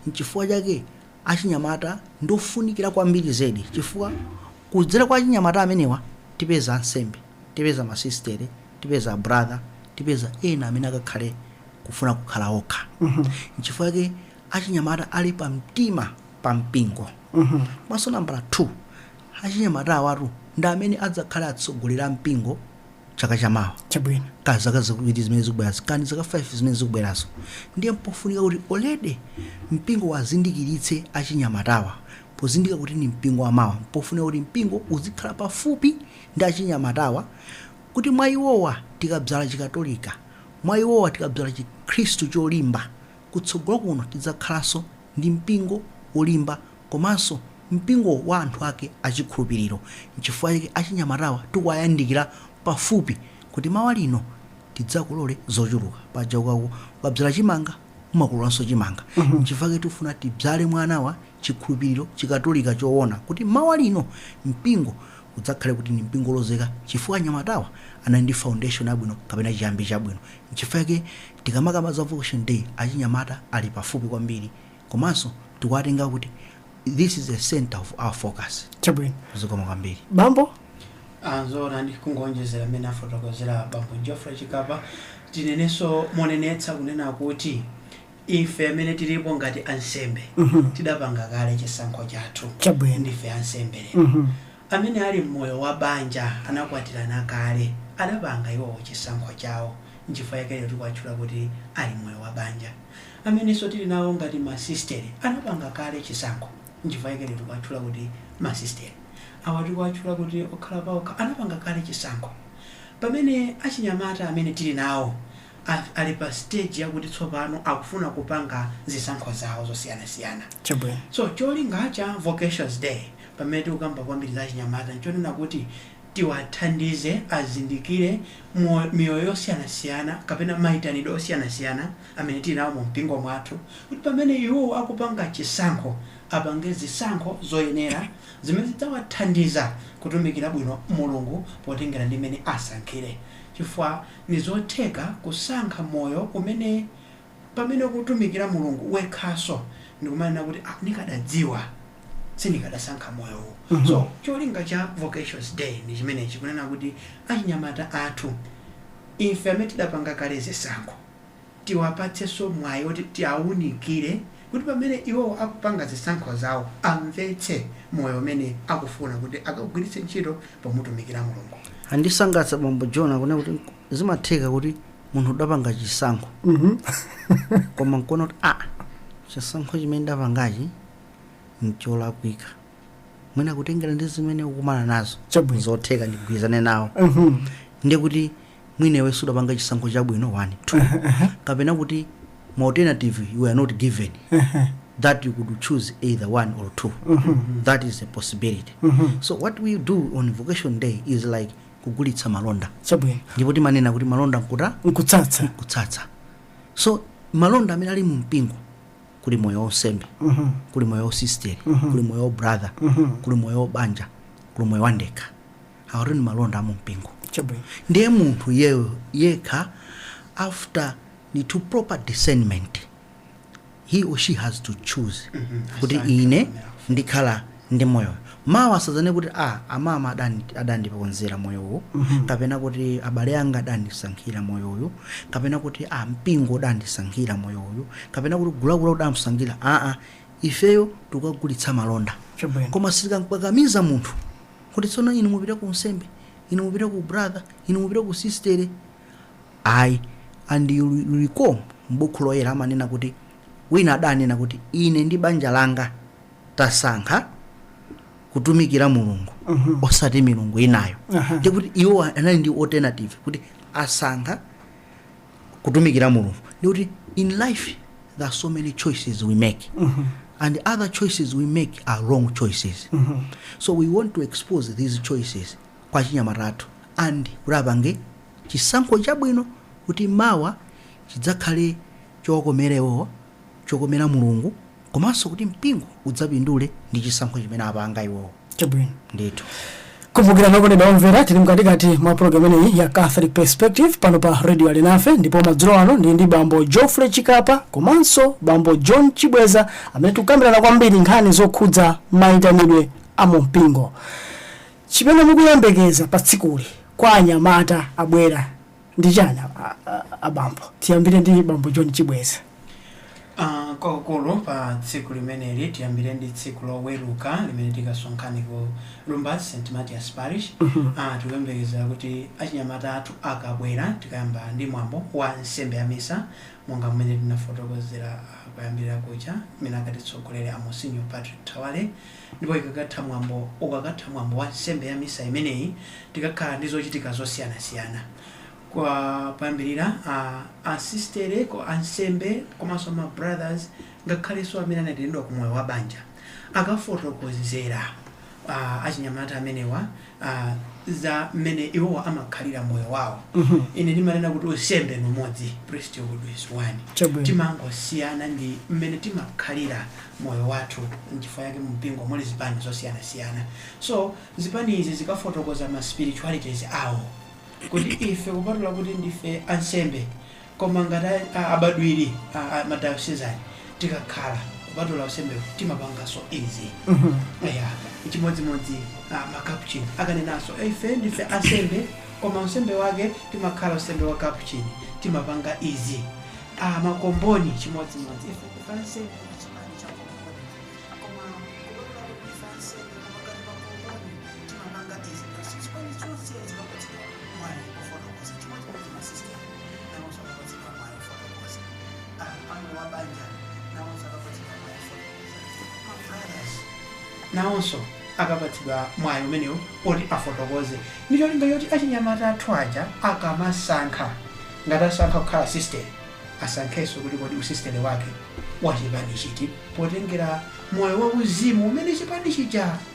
nchifukwa chake achinyamata ndi ofunikira kwambiri zedi chifukwa kudzera kwa achinyamata amenewa tipeza ansembe tipeza masistere tipeza brother tipeza ena amene akakhale kufuna kukhala okha nchifukwa chake achinyamata ali pamtima pa mpingo komanso nambala 2 achinyamata awatu ndi amene adzakhale atsogoleri a mpingo chaka chamawa chabwino kaya zaka ziwiri zimene zikubwerazo kaya ndi zaka 5 zimene zikubwerazo ndiye mpofunika kuti olede mpingo uwazindikiritse achinyamatawa pozindikira kuti ni mpingo wamawa mpofunika kuti mpingo uzikhala pafupi ndi achinyamatawa kuti mwa iwowa tikabzala chikatolika mwa iwowa tikabzala chikhristu cholimba Kutsogolo kuno tidzakhalanso ndi mpingo wolimba komanso mpingo wa anthu ake achikhulupiriro. N'chifukwa chake achinyamatawa tikuwayandikira pafupi kuti mawa lino tidzakolole zochuluka. Paja ukabzala chimanga umakololanso chimanga. N'chifukwa chake tifuna tibzale mwa anawa chikhulupiriro Chikatolika choona kuti mawa lino mpingo udzakhale kuti ndi mpingo wolozeka chifukwa anyamatawa anali ndi foundation yabwino kapena chiyambi chabwino. Nchifukwa chake tikamakamba za vocation day achinyamata ali pafupi kwambiri komanso tikuwatenga kuti this is a centre of our focus. Chabwino. Zikomo kwambiri. Bambo? Ah, zoonadi kungoonjezera mmene afotokozera bambo Geoffrey Chikapa tinenenso monenetsa kunena kuti ife amene tilipo ngati ansembe tidapanga kale chisankho chathu Chabwino. ndife ansembe lero Mhm. Amene ali m'moyo wa banja, anakwatirana kale, anapanga iwowo chisankho chawo. Nchifukwa chake lero tikuwatchula kuti ali m'moyo wa banja. Amenenso tili nawo ngati masisitere, anapanga kale chisankho. Nchifukwa chake lero tikuwatchula kuti masisitere. Awa tikuwatchula kuti okhala paokha, anapanga kale chisankho. Pamene achinyamata amene tili nawo Athu ali pa stage yakuti tsopano akufuna kupanga zisankho zawo zosiyanasiyana. Chabwino. So cholinga cha Vocations Day pamene tikukamba kwambiri za achinyamata nchonena kuti tiwathandize azindikire miyoyo yosiyanasiyana kapena maitanidwe osiyanasiyana amene tili nawo mu mpingo mwathu kuti pamene iwowo akupanga chisankho, apange zisankho zoyenera zimene zidzawathandiza kutumikira bwino Mulungu potengera ndi mmene asankhire chifukwa. Nizotheka kusankha moyo umene pamene ukutumikira Mulungu wekhaso ndikumanena kuti ah ndikadadziwa sindikadasankha moyo uwu. So cholinga cha Vocations day ndi chimenechi kunena kuti achinyamata athu ife amene tidapanga kale zisankho. tiwapatsenso mwayi woti tiawunikire kuti pamene iwowo akupanga zisankho zawo amvetse moyo umene akufuna kuti akagwiritse ntchito pomutumikira Mulungu. Andisangalatsa bambo John kunena kuti nk- zimatheka kuti munthu udapanga chisankho koma nkuona kuti a chisankho chimene ndapangachi ncholakwika mwina kutengera ndi zimene ukumana nazo Chabwino. zotheka ndigwirizane nawo Mhm. ndiye kuti mwina iwe sudapanga chisankho chabwino one two kapena kuti ma alternative you were not given that you could choose either one or two that is a possibility so what we do on vocation day is like kugulitsa malonda chabwino ndipo timanena kuti malonda nkutsatsa kutsatsa so malonda amene ali mu mpingo kuli moyo wonsembe Mhm. kuli moyo wosisteri kuli moyo wobrother kuli moyo wobanja kuli moyo wandekha awotu ndi malonda amumpingo Chabwino. ndiye munthu iye yekha after ndithu proper discernment he or she has to choose kuti Asankhe ine amene afuna. ndikhala ndi moyowu mawa asadzanene kuti a amama adandi- adandiponzera moyowu kapena kuti abale anga adandisankhira moyowu kapena kuti a mpingo udandisankhira moyowu kapena kuti gulagula udamsankhira aa ifeyo tukagulitsa malonda Chabwino. koma sitikamkakamiza munthu Kuti tsono inu mupita ku unsembe? Inu mupita ku ubratha? Inu mupita ku usisiteri? Ayi. And you will recall m'Bukhu Loyera amanena kuti, wina adanena kuti, Ine ndi banja langa tasankha kutumikira Mulungu osati milungu inayo. Uh-huh. Ndiye kuti iwo anali ndi alternative kuti asankha kutumikira mulungu ndikuti in life there are so many choices we make and other choices we make are wrong choices so we want to expose these choices kwa achinyamata athu and kuti apange chisankho chabwino kuti mawa chidzakhale chokomera iwowo chokomera mulungu komanso kuti mpingo udzapindule ndi chisankho chimene apanga iwowo chabwino ndithu kumbukirani okondedwa omvera tili mkatikati mwa programu imeneyi ya catholic perspective pano pa radio alinafe ndipo madzulo ano ndili ndi bambo geoffrey chikapa komanso bambo john chibweza amene tikukambirana kwambiri nkhani zokhudza mayitanidwe a mumpingo chimene mukuyembekeza pa tsikuli kwa anyamata abwera ndi chani a- a- a- abambo tiyambire ndi bambo john chibweza Ah, kwakukulu pa tsiku limeneli tiyambire ndi tsiku loweruka limene tikasonkhane ku lumbadzi st matias parish Ah, tikuyembekezera kuti achinyamata athu akabwera tikayamba ndi mwambo wa nsembe ya misa monga mmene tinafotokozera ah, kuyambira kuja imene akatitsogolere a monsinyo patrick thawale Ndipo ikakatha mwambo, ukakatha mwambo wa nsembe ya misa imeneyi, tikakhala ndi zochitika zosiyanasiyana. Kwa poyambirira, a, asisitere, ansembe komanso ma brothers ngakhalenso amene anaitanidwa ku moyo wa banja akafotokozera a, achinyamata amenewa a, za mmene iwowa amakhalira moyo wawo Mhm. ine ndimanena kuti usembe ni umodzi priesthood is one Chabwino. timangosiyana ndi mmene timakhalira moyo wathu nchifukwa yake mumpingo muli zipani zosiyanasiyana so zipani izi zikafotokoza ma spiritualities awo kuti ife kupatula kuti ndife ansembe Koma ngati a abambo a madayosizani tikakhala kupatula usembewu timapanganso izi eya chimodzimodzi a makapuchini akanenanso ife ndife ansembe koma unsembe wake timakhala unsembe wa kapuchini timapanga izi a makomboni chimodzimodzi ife ndife ansembe chipani cha komboni koma kupatula kuti ndife ansembe koma ngati makomboni timapanga izi chipani chonse chikapatsidwa mwayi ofotokoza chimodzimodzi masisitere nawonso akapatsidwa mwayi ofotokoza a pa moyo wa banja nawonso akapatsidwa mwayi ofotokoza ma brothers nawonso akapatsidwa mwayi umenewu oti afotokoze ndi cholinga choti achinyamata athu aja akamasankha ngati asankha kukhala sistere asankhenso kuti kodi usistere wake wa chipani chiti potengera moyo wauzimu umene chipani chija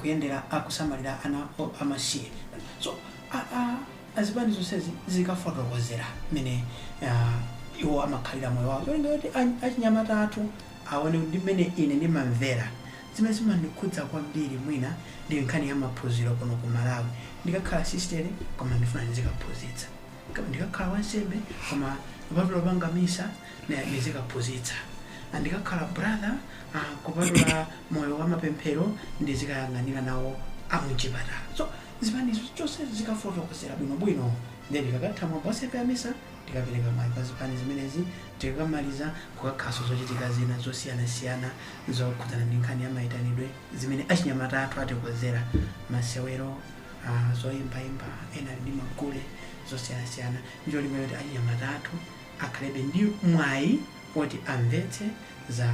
kuyendera akusamalira ana amasiye so azipani zonsezi zikafotokozera mmene iwo amakhalira moyo wawo cholinga kuti achinyamata athu aone kuti mmene ine ndimamvera zimene zimandikhudza kwambiri mwina ndi nkhani ya maphunziro kuno ku malawi ndikakhala sistere koma ndifuna ndizikaphunzitsa ndikakhala wansembe koma kupatula kupanga misa Naye ndizikaphunzitsa ndikakhala brother ah kupatula moyo wamapemphero ndizikayang'anira nawo amuchipatala so zipani zonse zikafotokozera bwino bwino then tikakatha mwambo wa nsembe ya misa tikapereka mwayi kwa zipani zimenezi tikakamaliza kukakhalanso zochitika zina zosiyana siyana zokhudzana ndi nkhani ya mayitanidwe zimene achinyamata athu atikonzera masewero ah zoyimbayimba ena ali ndi magule zosiyana siyana ndicholinga choti achinyamata athu akhalebe ndi mwayi woti amvetse za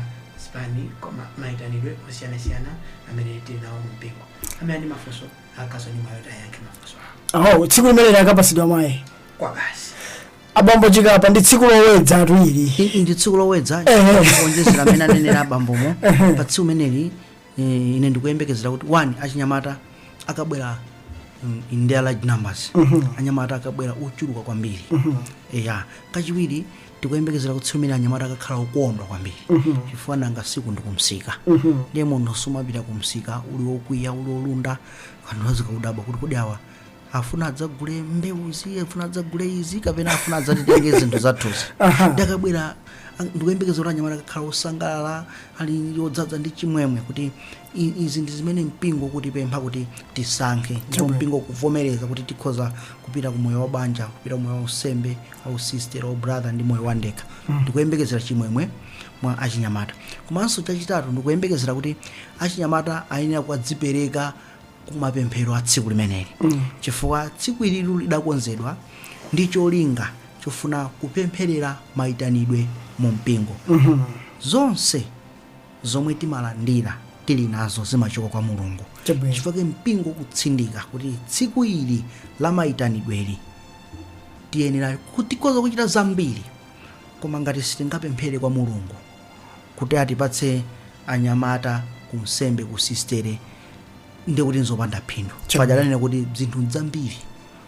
zipani koma mayitanidwe osiyanasiyana amene tili nawo mu mpingo amene ali ndi mafunso akakhalanso ndi mwayi woti ayankhe mafunso awo oh tsiku limeneli akapatsidwa mwayi kwa basi abambo chikapa ndi tsiku lowedza ati ili ndi tsiku lowedza Ehe. kuonjezera amene anenera abambomo pa tsiku limeneli Eh, ine ndikuyembekezera kuti one achinyamata akabwera mm, in their large numbers anyamata akabwera ochuluka kwambiri eya kachiwiri tikuyembekezera kuti tsiku limeneli anyamata akakhala okondwa kwambiri chifukwa nanga si uku ndikumsika ndiye munthu sumapita kumsika uli okwiya uli olunda anthu azikakudabwa kuti kodi awa afuna adzagule mbewuzi afuna adzagule izi kapena afuna adzatitenge zinthu zathuzi nde akabwera ang- ndikuyembekeza kuti anyamata akakhala osangalala ali odzadza ndi chimwemwe kuti i- izi ndi zimene mpingo ukutipempha kuti tisankhe ndipo mpingo ukuvomereza kuti tikhoza kupita ku moyo wa banja kupita ku moyo wa usembe wa usistera wa ubrother ndi moyo wa ndekha ndikuyembekezera chimwemwe mwa achinyamata komanso chachitatu ndikuyembekezera kuti achinyamata ayenera kudzipereka kumapemphero a tsiku limeneli chifukwa tsiku ilili lidakonzedwa ndi cholinga chofuna kupempherera mayitanidwe mu mpingo zonse zomwe timalandira tili nazo zimachoka kwa mulungu Chabwino. chifukwa chake mpingo ukutsindika kuti tsiku ili la mayitanidweli tiyenera tikhoza kuchita zambiri koma ngati sitingapemphere kwa mulungu kuti atipatse anyamata ku unsembe kusistere ndiye kuti nzopanda phindu paja adanena kuti dzinthu nzambiri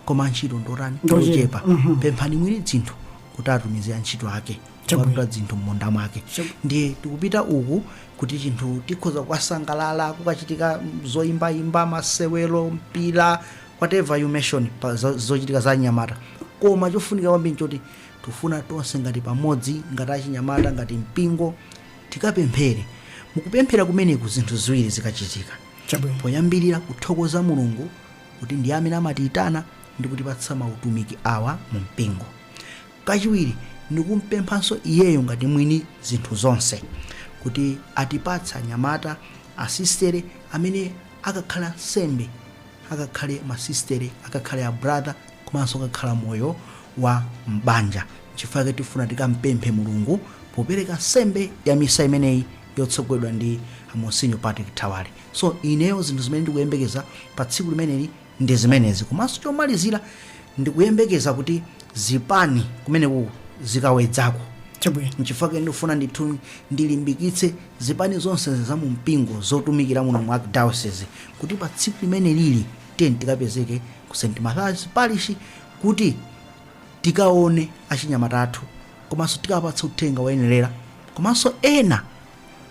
koma antchito ndotani Ndochepa. ndochepa Mhm. pemphani mwini dzinthu kuti atumize antchito ake Chabwino. kukatuta dzinthu m'munda mwake Chabwino. ndiye tikupita uku kuti chinthu tikhoza kukasangalala kukachitika zoyimbayimba masewero mpira whatever you mention pa zo- zochitika za anyamata koma chofunika kwambiri nchoti Tufuna tonse ngati pamodzi, ngati achinyamata, ngati mpingo, tikapemphere. Mukupemphera kumeneku zinthu ziwiri zikachitika. Chabwino. Poyambirira kuthokoza Mulungu kuti ndiye amene amatiyitana ndi kutipatsa mautumiki awa mu mpingo. Kachiwiri ndikumpemphanso iyeyo ngati mwini zinthu zonse kuti atipatse anyamata, asistere amene akakhale ansembe, akakhale masistere, akakhale a brother, komanso akakhala moyo wa m'banja. N'chifukwa chake tifuna tikampemphe Mulungu popereka nsembe ya misa imeneyi yotsogozedwa ndi Monsinyo Patrick Thawale. So ineyo zinthu zimene ndikuyembekeza pa tsiku limeneli ndi zimenezi. Komanso chomalizira ndikuyembekeza kuti zipani kumene zikawedzako. Chabwino. N'chifukwa chake ndikufuna ndithu ndilimbikitse zipani zonse za mu mpingo zotumikira muno mu Archdiocese kuti pa tsiku limenelili tiyeni tikapezeke ku st mathias parish kuti tikaone achinyamata athu komanso tikawapatse uthenga woyenerera komanso ena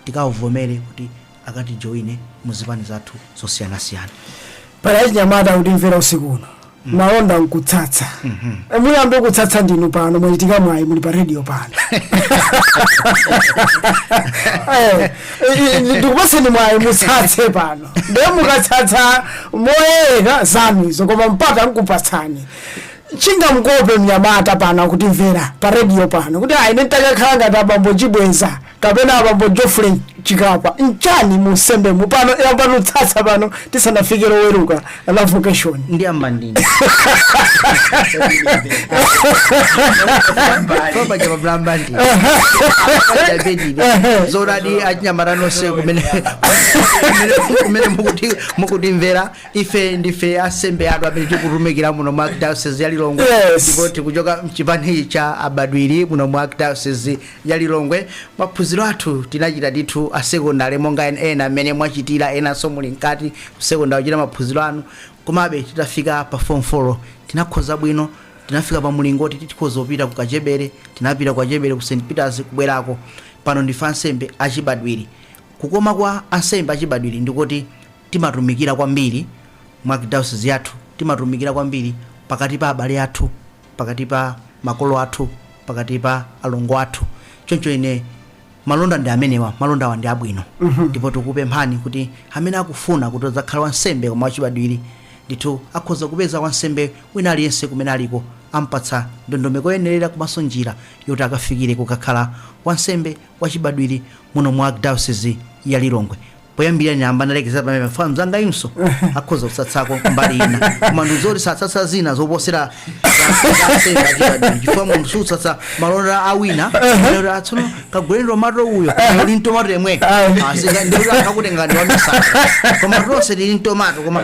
tikawavomere kuti akatijoine mu zipani zathu zosiyanasiyana pali achinyamata akutimvera usiku uno malonda nkutsatsa muyambe kutsatsa ndinu pano mwachita mwayi muli pa redio pano Eh, eh, ndikupaseni mwayi mutsatse pano ndiye mukatsatsa moyerekeza zanu izo koma mpata nkupatsani chingamukope mnyamata pano akutimvera pa redio pano kuti ine nditakakhala ngati abambo chibweza kapena abambo geoffrey chikapa nchani mu unsembemu pano yambani kutsatsa pano tisanafike loweruka la vocation ndi ambandini paja pablambandi pajabedi zoonadi achinyamata nonse kumene kumene- kumene mukuti- mukutimvera ife ndife ansembe anu amene tikutumikira muno mu archdiocese ya lilongwe Yes. ndipo tikuchoka mchipani cha abadwiri muno mu archdiocese ya Lilongwe, maphunziro athu tinachita ndithu a sekondale monga ena mmene mwachitira enanso muli mkati ku sekondale kuchita maphunziro anu. Komabe titafika pa fomu folo tinakhoza bwino, tinafika pa mulingo woti tikhoza kupita ku Kachebere. Tinapita ku Kachebere ku St. Peters kubwerako. Pano ndife ansembe achibadwiri. Kukoma kwa ansembe achibadwiri ndi koti timatumikira kwambiri mu arkidayosizi yathu, timatumikira kwambiri pakati pa abale athu. pakati pa makolo athu pakati pa alongo athu choncho ine malonda ndi amenewa malondawa ndi abwino ndipo tikupemphani kuti amene akufuna kuti adzakhale wansembe koma wachibadwiri ndithu akhoza kupeza wansembe wina aliyense kumene aliko ampatsa ndondomeko yoyenerera komanso njira yoti akafikire kukakhala wansembe wachibadwiri muno mu arkidayosizi ya lilongwe poyambira ndayamba ndalekezera pamene fana mzangayunso akhoza kutsatsako mbali ina koma ndizoti sutsatsa zina zoposera chifukwa munthu sutsatsa malonda a wina kuti tsono kaguleni tomato uyo uli mtomato yemwe Ah. Asi, ndikuti akakutenga ndi wamisaka koma tonse tili mtomato koma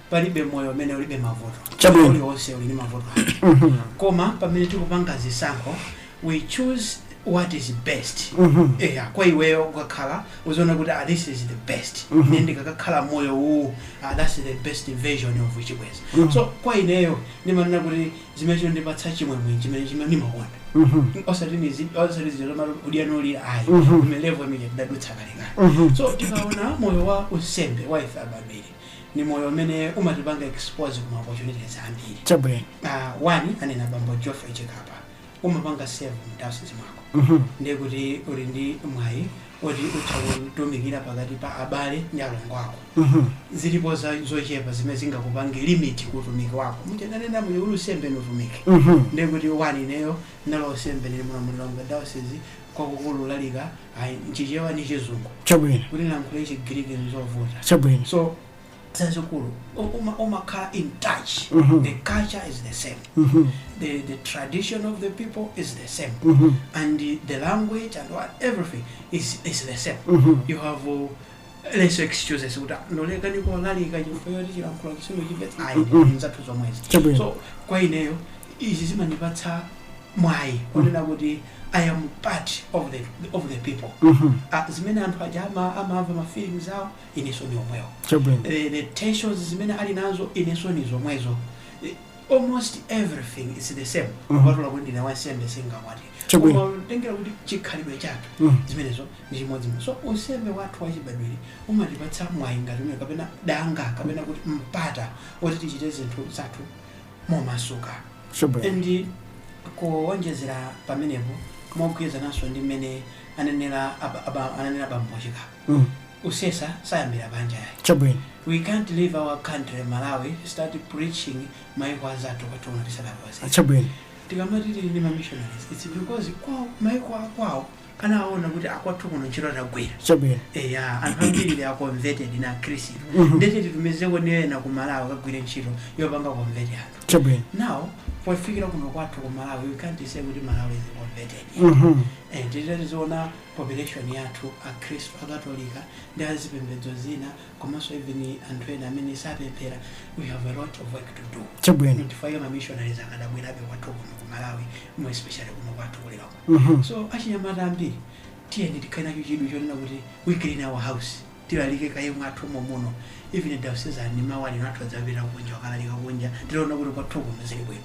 palibe moyo umene ulibe mavuto Chabwino. uliwonse uli ndi mavuto ake koma pamene tikupanga zisankho we choose what is best eya kwa iweyo ukakhala uziona kuti ah, this is the best ine ndikakakhala moyo uwu ah, that's the best version of Chibwenzi so kwa ineyo ndimanena kuti chimene chondipatsa chimwemwe chimene chimene ndimakonda osati nizi osati zero malo udianoli ayi mu level imene ndadutsa kalekale so tikaona moyo wa unsembe wa ife abadwiri ni moyo umene umatipanga expose ku ma opportunities ambiri chabwino uh, one anena bambo Geoffrey Chikapa umapanga serve mdiocese mwako Mhm. ndiye kuti uli ndi mwayi oti utha kutumikira pakati pa abale ndi alongo ako Mhm. zilipo za- zochepa zimene zingakupange limit ku utumiki wako muja ananena moyo wa unsembe ni utumiki Mhm. ndiye kuti one ineyo ndalowa unsembe ndi muno Lilongwe diocese kwakukulu kulalika ayi nChichewa ndi chizungu chabwino kuti ndilankhule chigiriki nzovuta chabwino so chachikulu u- uma- umakhala in touch Mhm. the culture is the same Mhm, the, the tradition of the people is the same mhm, and the, the language and what everything is, is the same mhm, you have uh, less excuses kuti ndalekana nkulalika chifukwa choti chilankhulo chimandichepa ayi ndi zathu zomwezi Chabwino. so kwa ineyo izi zimandipatsa mwayi kunena kuti i am part of the, of the people Mhm. Ah, zimene anthu aja ama- amamva ma feelings awo ineso ni omwewo Chabwino. Eh, the tensions zimene ali nazo ineso ni zomwezo Eh, almost everything is the same Mhm. kupatula kuti ndine wansembe sindinakwatire Chabwino. koma kutengera kuti chikhalidwe chathu Mhm. zimenezo ndi chimodzimodzi so unsembe wathu wachibadwiri umatipatsa mwayi ngati umene kapena danga kapena kuti mpata woti tichite zinthu zathu momasuka Chabwino. and kuwonjezera pamenepo mogwirizananso ndi mmene anenera aba- aba- anenera bambo chikapa mm. kusesa sayambira panja yayi chabwino we can't leave our country malawi start preaching maiko anzathu kwathu kuno tisadakwanitse chabwino tikamati tili ndi mamissionaries its because kwawo maiko akwawo anaona kuti akwathu kuno ntchito tagwira chabwino eya anthu ambiri they are converted na khristu Mhm. ndiye titumizeko ni ena ku malawi kagwire ntchito yopanga convert anthu chabwino now pofikira kuno kwathu ku malawi we can't say kuti malawi is converted Mhm. and titatiziona population yathu akhristu akatolika ndi a zipembedzo zina komanso even anthu ena amene sapemphera we have a lot of work to do Chabwino. nchifukwa chake ma missionaries akadabwerabe kwathu kuno ku malawi more especially kuno kwathu ku Lilongwe Mhm. so achinyamata ambiri tiyeni tikhale nacho chidwi chonena kuti we clean our house tilalike kaye mwathu momuno even diocesan mawa lino athu adzapita kunja kukalalika kunja titaona kuti kwathu kuno zili bwino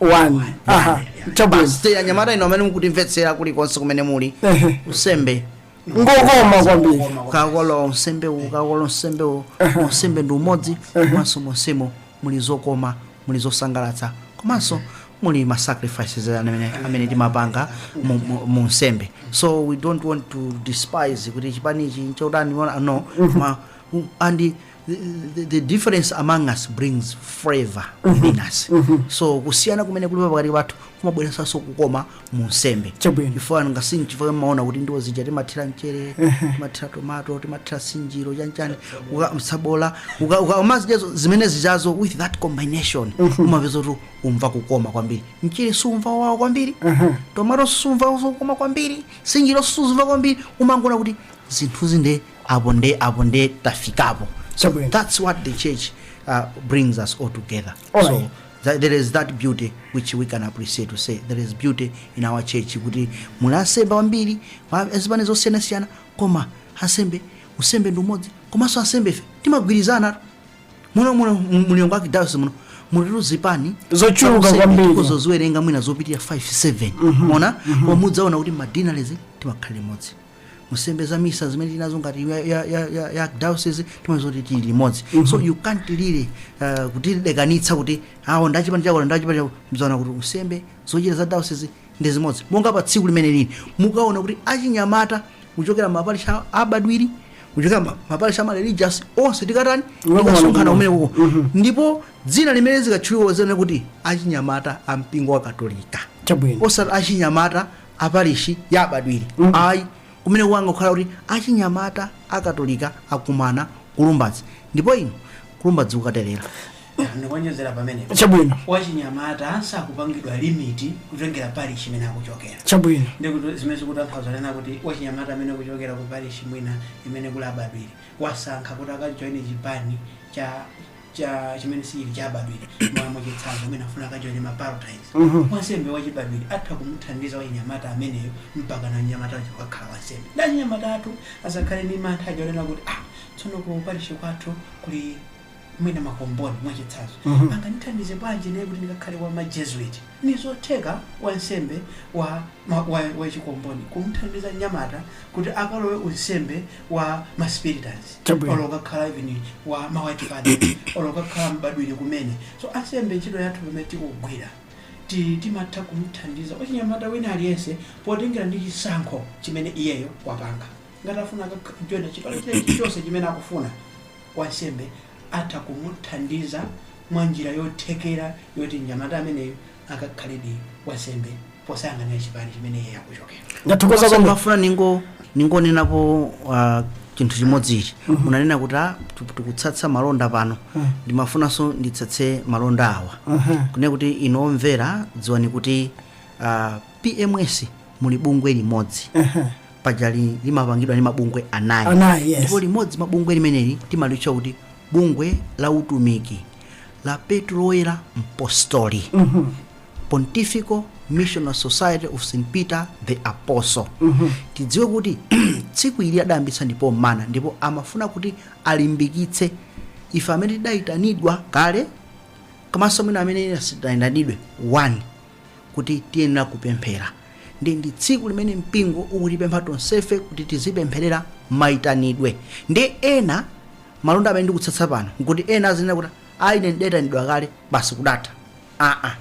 one aha chabwino Basi, anyamata inu amene mukutimvetsera kulikonse kumene muli Ehe. unsembe ngokoma kwambiri ukakola unsembe uwu ukakola unsembe uwu unsembe ndi umodzi komanso monsemo muli zokoma muli zosangalatsa komanso muli ma sacrifices amene, amene timapanga mu, mu, mu unsembe so we don't want to despise kuti chipani ichi nchotani no ma, and the, the, the difference among us brings flavor within us so kusiyana kumene kulipo pakati pathu kumabweresanso kukoma mu unsembe Chabwino. chifukwa nanga sinchifukwa mmaona kuti ndiwo zija timathira mchere timathira tomato timathira sinjiro chanchani uka- msabola uka- uka- umazijazo zimene zijazo with that combination umapeza kuti umva kukoma kwambiri mchere siumva kuwawa kwambiri tomato siumva kukoma kwambiri sinjiro siumva kwambiri umangoona kuti zinthuzi nde apo nde apo nde tafikapo so Chabwino. that's what the church uh, brings us all together All so right. that, there is that beauty which we can appreciate to say there is beauty in our church kuti muli ansembe ambiri wa- azipani zosiyanasiyana koma ansembe unsembe ndi umodzi komanso ansembe ife timagwirizana muno muno mu Lilongwe archdiocese muno mulitu zipani Zochuluka Useme kwambiri. tikuzo ziwerenga mwina zopitirira 5 7 koma mudzaona kuti ma deaneries timakhala limodzi nsembe za misa zimene tili nazo ngati ya, ya, ya, ya, ya diocese timazo kuti tili limodzi so you can't really uh, kutilekanitsa kuti awo ndi achipani chako ndi achipani chako mudzaona kuti nsembe zochita za diocese ndi zimodzi monga pa tsiku limeneli mukaona kuti achinyamata kuchokera maparish a- abadwiri kuchokera ma- maparish ama religious onse tikatani Ukaona tikasonkhana kuti- kumeneko ndipo dzina limene zikatchulidwa zene kuti achinyamata a mpingo wa katolika chabwino osati achinyamata a parishi ya abadwiri ayi kumene kukangokhala kuti achinyamata a katolika akumana ku lumbadzi ndipo inu kulumbadzi kukatelera ndikuonjezera pamenepo Chabwino. wachinyamata sakupangidwa limit kutengera parish imene akuchokera Chabwino. ndikuti zimene zikutanthauza kunena kuti wachinyamata amene akuchokera ku parish mwina imene kuli abadwiri wasankha kuti akajoine chipani cha cha chimene sichili chachibadwiri mwa mwachitsanzo mwina afuna akajoine ma pallottines wansembe wachibadwiri atha kumuthandiza wachinyamata ameneyo mpakana mnyamata wakeyo akakhala wansembe ndiye achinyamata athu asakhale ndi mantha aja onena kuti ah tsono ku parishi kwathu kuli mwina makomboni mwachitsanzo Mhm. angandithandize bwanji ine kuti ndikakhale wa majesuit nizotheka wansembe wa, ma- wa, wa chikomboni kumuthandiza mnyamata kuti akalowe unsembe wa ma spiritans Chabwino. olo kukakhala even wa ma white father olo kukakhala mbadwiri kumene so ansembe ntchito yathu pamene tikugwira ti- timatha kumthandiza wachinyamata wina aliyense potengera ndi chisankho chimene iyeyo wapanga ngati afuna akajoine chipani chilichonse chimene akufuna wansembe atha kumuthandiza mwa njira yothekera yoti mnyamata ameneyo akakhaledi wansembe posayang'anira chipani chimene iye akuchokera ndathokoza Komanso kwambiri ndimafuna ningo ningonenapo uh, chinthu chimodzi ichi munanena kuti ah, tu- tikutsatsa malonda pano ndimafunanso nditsatse malonda awa kunena kuti inu omvera dziwani kuti uh, pms muli bungwe limodzi pajali limapangidwa ndi mabungwe anayi Anayi, yes. ndipo limodzi mwa mabungwe limeneli timalitcha kuti bungwe la utumiki la petro woyera mpostoli pontifical missionary society of st peter the apostle tidziwe kuti tsiku ili adayambitsa ndi papa mmene ndipo amafuna kuti alimbikitse ife amene tidayitanidwa kale komanso mwina amene sitinayitanidwe one kuti tiyenera kupemphera ndiye ndi tsiku limene mpingo ukutipempha tonsefe kuti tizipempherera mayitanidwe ndiye ena Malonda amene ndikutsatsa pano nkuti ena azinena kuti a ine ndidaitanidwa kale basi kudatha. Aa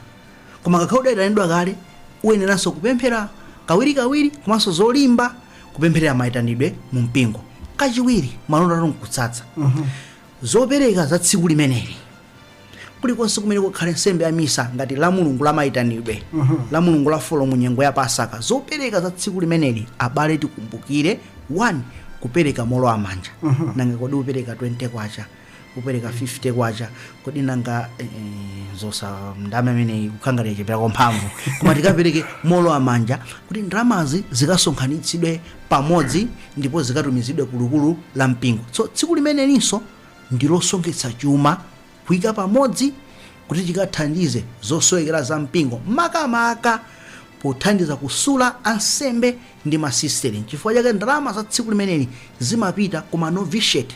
koma ngakhale udaitanidwa kale uyeneranso kupemphera kawirikawiri komanso zolimba kupempherera maitanidwe mu mpingo. Kachiwiri malonda ndikutsatsa zopereka za tsiku limeneli. kulikonse kumene kukhale nsembe ya misa ngati la mulungu la maitanidwe la mulungu la folo mu nyengo ya pasaka zopereka za tsiku limeneli abale tikumbukire 1 kupereka molowa manja nanga kodi upereka 20 kwacha upereka 50 kwacha kodi nanga eh, eh, zoti ndalama imeneyi kukhala ngati yachepekera mphamvu koma tikapereke molowa manja kuti ndalamazi zikasonkhanitsidwe pamodzi ndipo zikatumizidwe kulikulu la mpingo so tsiku limenelinso ndi losonkhetsa chuma kuika pamodzi kuti chikathandize zosowekera za mpingo makamaka pothandiza kusula ansembe ndi masisiteri nchifukwa chake ndalama za tsiku limeneli zimapita ku manovitiate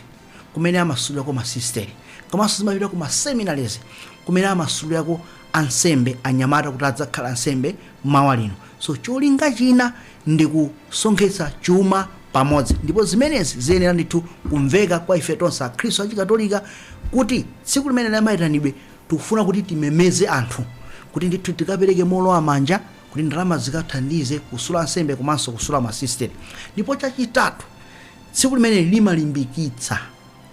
kumene amasulirako masisiteri komanso zimapita ku maseminaries kumene amasulirako ansembe anyamata kuti adzakhale ansembe mawa lino. So cholinga china ndi kusonkhetsa chuma pamodzi, ndipo zimenezi ziyenera ndithu kumveka kwa ife tonse Akhristu a Chikatolika kuti tsiku limene la mayitanidwe tikufuna kuti timemeze anthu kuti ndithu tikapereke moolowa manja kuti ndalama zikathandize kusula ansembe komanso kusula masisiteri. Ndipo chachitatu, tsiku limeneli limalimbikitsa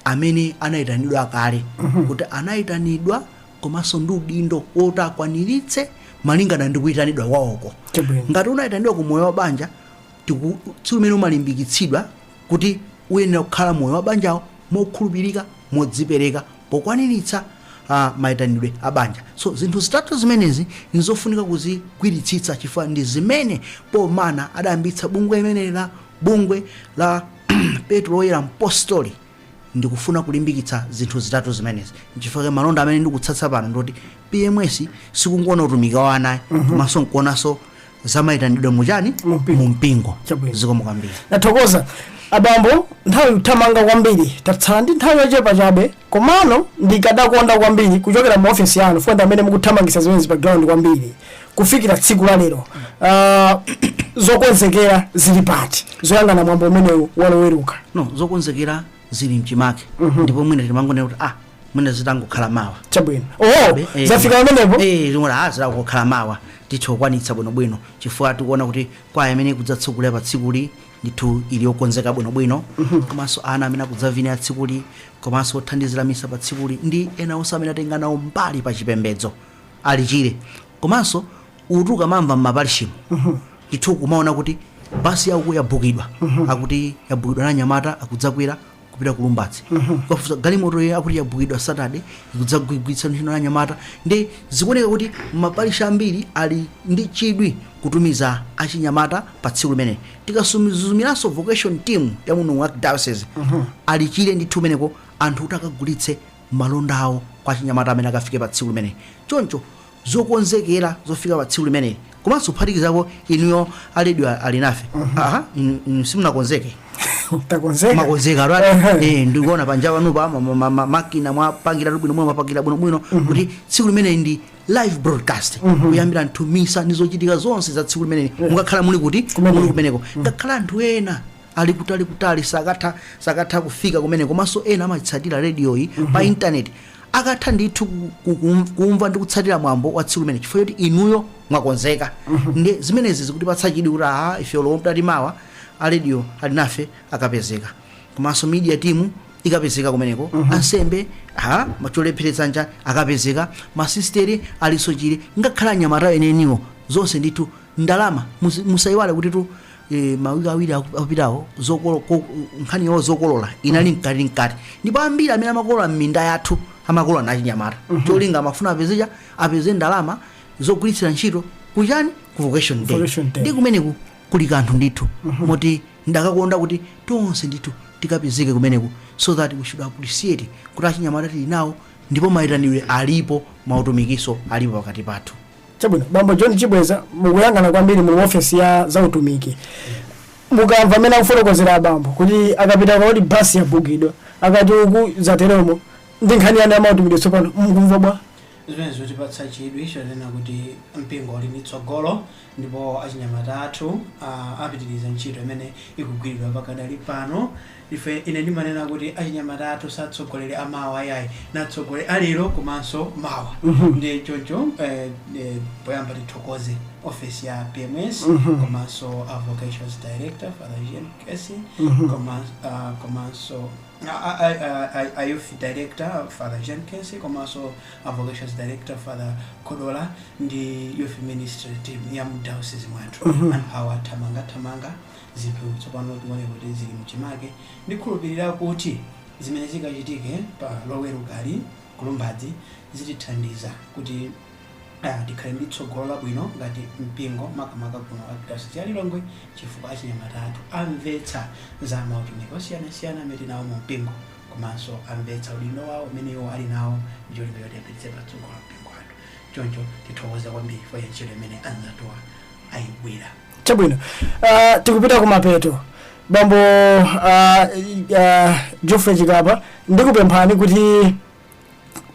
amene anayitanidwa kale kuti anayitanidwa komanso ndi udindo woti akwaniritse malingana ndi kuyitanidwa kwawoko Chabwino. ngati unayitanidwa ku moyo wa banja ti- tsiku limene umalimbikitsidwa kuti uyenera kukhala moyo wa banjawo mokhulupirika modzipereka pokwaniritsa uh, mayitanidwe a banja so zinthu zitatu zimenezi nizofunika kuzigwiritsitsa chifukwa ndi zimene pomwe anadayambitsa bungwe limeneli la bungwe la petro woyera mpostoli Ndikufuna kulimbikitsa zinthu zitatu zimenezi. N'chifukwa chake malonda amene ndikutsatsa pano ndi oti PMS sikungowona utumiki wa ana ayi, komanso nkuonanso za mayitanidwe mu chani? Mu mpingo. Mu mpingo. Chabwino. Zikomo kwambiri. Ndathokoza abambo, nthawi ikuthamanga kwambiri, tatsala ndi nthawi yochepa chabe, komano ndikadakonda kwambiri kuchokera mu ofesi yanu, chifukwa ndi amene mukuthamangitsa zimenezi pa ground kwambiri, kufikira tsiku la lero uh, zokonzekera zili pati zoyang'ana mwambo umenewu waloweruka no zokonzekera zili mchimake ndipo mwina timangonena kuti ah mwina zitangokhala mawa chabwino oh Eh, zafika pamenepo eh zitangokhala mawa titha kukwanitsa bwinobwino chifukwa tikuona kuti kwaya imene ikudzatsogolera pa tsikuli ndithu ili yokonzeka bwinobwino komanso ana amene akudzavinira tsikuli komanso othandizira misa pa tsikuli ndi ena onse amene atenga nawo mbali pa chipembedzo ali chile komanso uti ukamamva m'maparishimo ndithu kumaona kuti basi ya uko yabhukidwa akuti yabhukidwa na anyamata akudzakwera kupita ku lumbadzi ukafunsa galimoto iyo akuti yabhukidwa saturday ikudzagwiritsidwa ntchito na anyamata ndi zikuoneka kuti maparishi ambiri ali ndi chidwi kutumiza achinyamata pa tsiku limeneli tikasuzumiranso vocation team ya muno mu diocese ali chile ndithu kumeneko anthu kuti akagulitse malonda awo kwa achinyamata amene akafike pa tsiku limeneli. Choncho zokonzekera zofika pa tsiku limeneli komanso kuphatikizapo inuyo a radio alinafe aha inu, inu simunakonzeke takonzeka mwakonzekatu eti eh, ndikuona panja panopa ma- ma- ma- ma- makina mwapangiratu bwino bwino mwapangira bwino bwino kuti tsiku limeneli ndi live broadcast kuyambira ndithu misa ndi zochitika zonse za tsiku limeneli mukakhala muli kuti Kumeneko. muli kumeneko ngakhale anthu ena ali kutali kutali sakatha sakatha kufika kumeneko komanso ena amaitsatira radio yi pa internet akatha ndithu ku- ku- kum- kumva ndi kutsatira mwambo wa tsiku limene chifukwa choti inuyo mwakonzeka ndi zimenezi zikutipatsa chidwi kuti aha ife lomwe mtati mawa a Radio Alinafe akapezeka komanso media team ikapezeka kumeneko ansembe ha macholepheretsa nja akapezeka masisteri alinso chire ngakhale achinyamata eneniwo zonse ndithu ndalama musi- musayiwale kuti tu e, mawiki awiri aku- akupitawo zokolo- ko- nkhani yo zokolola inali mkati mkati ndipo ambiri amene amakolola m'minda yathu amakolola anali achinyamata cholinga amafuna apeze cha- apeze ndalama zogwiritsira ntchito kuchani ku vocation day Vocation day. ndiye kumeneku kuli kanthu ndithu moti ndikadakonda kuti tonse ndithu tikapezeke kumeneku so that we should appreciate kuti achinyamata tili nawo ndipo mayitanidwe alipo mautumikinso alipo pakati pathu Chabwino, Bambo John Chibweza, mukuyang'ana kwambiri mu ofesi ya zautumiki. Mukamva amene akufotokozera abambo kuti akapita uku akuti basi yabukidwa, akapita uku zateromo, ndi nkhani yanu yamautumiki tsopano, mukumva bwanji? zimenezi zikutipatsa chidwi chonena kuti mpingo uli ndi tsogolo ndipo achinyamata athu ah, apitiriza ntchito imene ikugwiridwa pakadali pano Ife, ine ndimanena kuti achinyamata athu si atsogoleri a mawa ayi, ndi atsogoleri a lero komanso mawa. Ndiye choncho eh, eh, poyamba tithokoze ofesi ya PMS komanso a vocations director Father Eugene Kesi koma- ah, komanso a- a- a- a- a youth director Father Eugene Kesi komanso a vocations director Father Kodola ndi youth ministry team ya mu diocese mwathu anthu awa athamangathamanga Zinthu tsopano zikuoneka kuti zili mchimake. Ndikhulupilira kuti zimene zikachitike pa Lowerukali ku Lumbadzi zitithandiza kuti tikhale ndi tsogolo labwino ngati mpingo makamaka kuno ku Arkidayosizi ya Lilongwe chifukwa achinyamata athu amvetsa za mautumiki osiyanasiyana amene tili nawo mu mpingo komanso amvetsa udindo wawo umene iwo ali nawo ndi cholinga choti apititse patsogolo mpingo wathu. Choncho tithokoze kwambiri chifukwa cha ntchito imene anzathuwa ayigwira. chabwino uh, tikupita kumapeto bambo uh, uh, geoffrey chikapa ndikupemphani kuti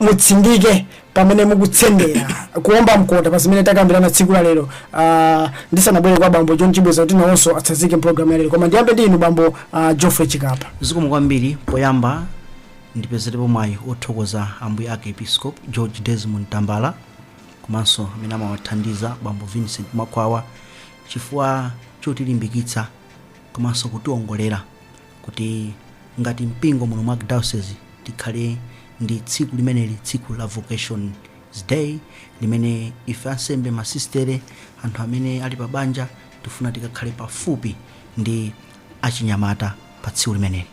mutsindike pamene mukutsendera kuomba mkota pa zimene takambirana tsiku la lero uh, ndisanabwere kwa bambo john chibweza kuti nawonso atsazike mpulogalamu ya lero koma ndiyambe ndi inu bambo uh, geoffrey chikapa zikomo kwambiri poyamba ndipezerepo mwayi wothokoza ambuye arkiepiskopi george desmond tambala komanso amene amawathandiza bambo Vincent Mwakhwawa chifukwa chotilimbikitsa komanso kutiongolera kuti ngati mpingo muno mwa Archdiocese tikhale ndi tsiku limeneli tsiku la Vocations Day limene ife ansembe masistere anthu amene ali pa banja tifuna tikakhale pafupi ndi achinyamata pa tsiku limeneli.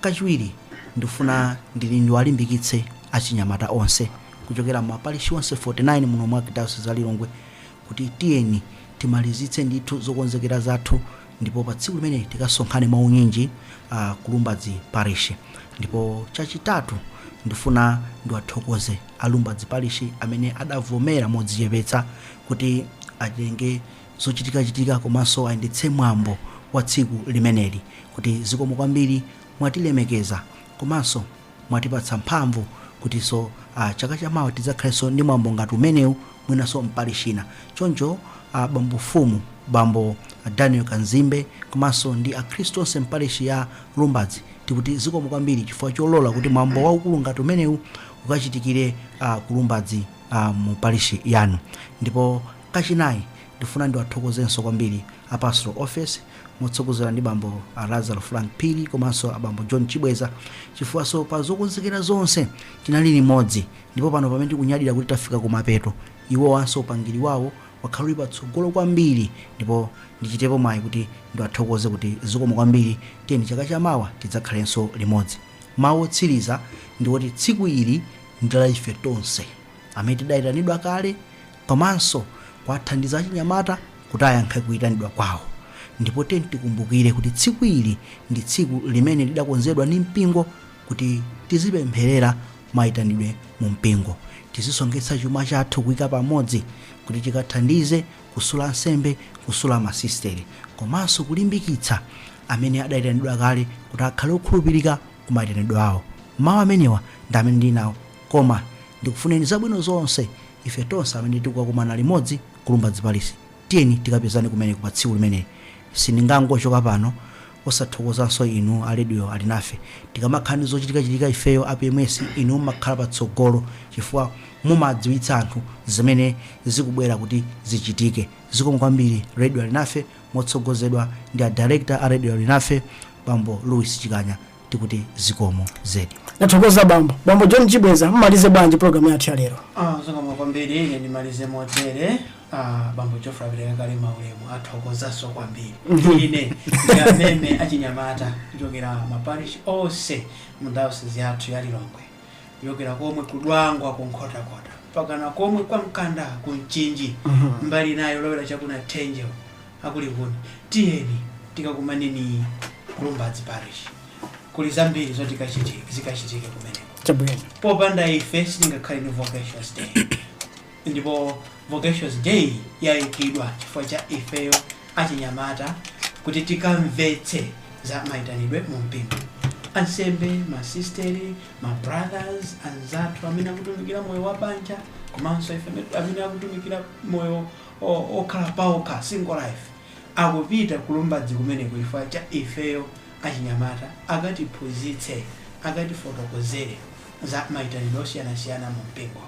Kachiwiri, ndifuna ndili ndiwalimbikitse achinyamata onse kuchokera mma parishi onse 49 muno mu Arkidayosizi ya Lilongwe kuti tiyeni timalizitse ndithu zokonzekera zathu ndipo pa tsiku limeneli tikasonkhane mwa unyinji ku Lumbadzi parishi. Ndipo chachitatu, ndifuna ndiwathokoze a Lumbadzi parishi amene adavomera modzichepetsa kuti atenge. zochitikachitika komanso ayendetse mwambo wa tsiku limeneli kuti zikomo kwambiri mwatilemekeza komanso mwatipatsa mphamvu kutiso ah, chaka chamawa tidzakhaleso ndi mwambo ngati umenewu mwinaso mparish ina choncho ah, bambo mfumu bambo daniel kanzimbe komanso ndi akhristu onse mparish ya lumbadzi tikuti zikomo kwambiri chifukwa cholola kuti mwambo waukulu ngati umenewu ukachitikire ah, ku lumbadzi ah, mu parish yanu ndipo Kachinayi, ndifuna ndiwathokozenso kwambiri a Pastoral Office motsogozedwa ndi bambo a Lazaro Frank Phiri komanso a bambo John Chibweza chifukwanso pa zokonzekera zonse tinali limodzi ndipo pano pamene tikunyadira kuti tafika kumapeto, iwowanso upangiri wawo wakhala uli patsogolo kwambiri ndipo ndichitepo mwayi kuti ndiwathokoze kuti zikomo kwambiri, tiyeni chaka cha mawa tidzakhalenso limodzi. Mawu otsiriza ndiwoti tsiku ili ndi la ife tonse amene tidaitanidwa kale, Komanso kuwathandiza achinyamata kuti ayankhe kuitanidwa kwawo. Ndipo tiyeni tikumbukire kuti tsiku ili ndi tsiku limene lidakonzedwa ndi mpingo kuti tizipempherera maitanidwe mu mpingo. Tizisonkhetsa chuma chathu kuika pamodzi kuti tikathandize kusula ansembe, kusula masisitere, komanso kulimbikitsa amene adaitanidwa kale kuti akhale okhulupirika ku maitanidwe awo. Mawu amenewa ndi amene ndinali nawo. Koma ndikufunireni zabwino zonse Ife tonse amene tikukakumana limodzi ku Lumbadzi Parish tiyeni tikapezane kumeneko pa tsiku limeneli. Sindingangochoka pano osathokozanso inu a Radio Alinafe. Tikamakhala ndi zochitikachitika ifeyo a PMS inu mumakhala patsogolo chifukwa mumadziwitsa anthu zimene zikubwera kuti zichitike. Zikomo kwambiri Radio Alinafe motsogozedwa ndi a Director a Radio Alinafe Bambo Louis Chikanya. tikuti zikomo zedi nathokoza bambo bambo john chibweza mmalize bwanji programu yathu ya lero Ah, zikomo kwambiri ine ndimalize motere ah, bambo geoffrey apereka kale maulemu athokozanso kwambiri ine ndiwameme achinyamata kuchokera maparish onse mu dayosizi yathu ya lilongwe kuchokera komwe ku dwangwa ku nkhotakota mpakana komwe kwa mkanda ku mchinji mbali nayo lowera chakuna tenjeo aku likuni tiyeni tikakumaneni ku lumbadzi parish kuli zambiri zoti zikachitike kumeneko chabwino popanda ife sitingakhale ndi vocations day ndipo vocations day yayikidwa chifukwa cha ifeyo achinyamata kuti tikamvetse za mayitanidwe mu mpingo ansembe masisteri mabrothers anzathu amene akutumikira moyo wa banja komanso amene akutumikira moyo wokhala paokha, single life, akupita ku Lumbadzi kumeneko chifukwa cha ifeyo achinyamata, akatiphunzitse, akatifotokozere za maitanidwe osiyanasiyana mu mpingo.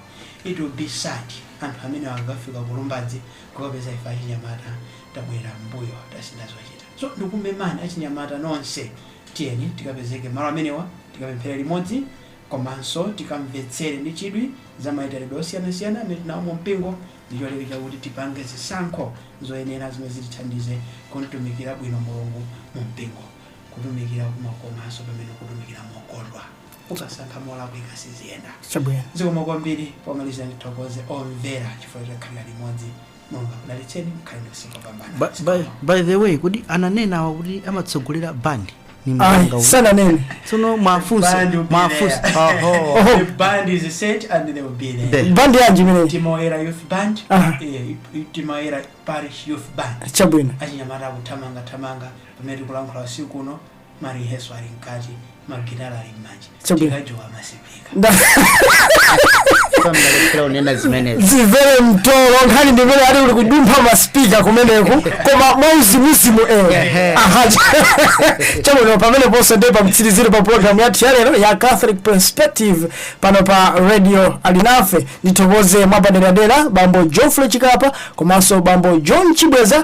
It will be sad anthu amenewa akakafika ku Lumbadzi kukapeza ife achinyamata tabwerera m'mbuyo, tasintha zochita. So ndikumemani achinyamata nonse, tiyeni tikapezeke malo amenewa, tikapemphere limodzi komanso tikamvetsere ndi chidwi za maitanidwe osiyanasiyana amene tili nawo mu mpingo. ndi cholinga chakuti tipange zisankho zoyenera zimene zitithandize kumtumikira bwino Mulungu mu mpingo. Kutumikira kumakomanso pamene ukutumikira mokondwa. Ukasankha molakwika siziyenda. Chabwino. Zikomo kwambiri. Pomaliza ndithokoze omvera chifukwa chokhalira limodzi. Mulungu akudalitseni. Mukhale ndi usiku wopambana. By the way kodi ananenawa kuti amatsogolera band ni Ai, mganga uyu. sananene tsono mwafunse Bandi upilira. mwafunse oho Oho. The band is set and they will be there. There. bandi yanji imeneyi Chigoneka Youth Band, Aha. eh, Chigoneka Parish Youth Band. chabwino achinyamata akuthamanga thamanga pamene tikulankhula usiku uno mariheso ali mkati magitala ali m'manja Chabwino. Tikajowa masipika. Nda- Pamalephera unena zimenezi. zimvere mtolo nkhani ndimene ali uli kudumpha maspika kumeneku koma mwauzimuzimu ewo Ehe. Aha, cha- chabwino pamene ponse ndi pamtsiriziro pa programu yathu yalero ya catholic perspective pano pa radio alinafe ndithokoze mwapaderadera bambo geoffrey chikapa komanso bambo john chibweza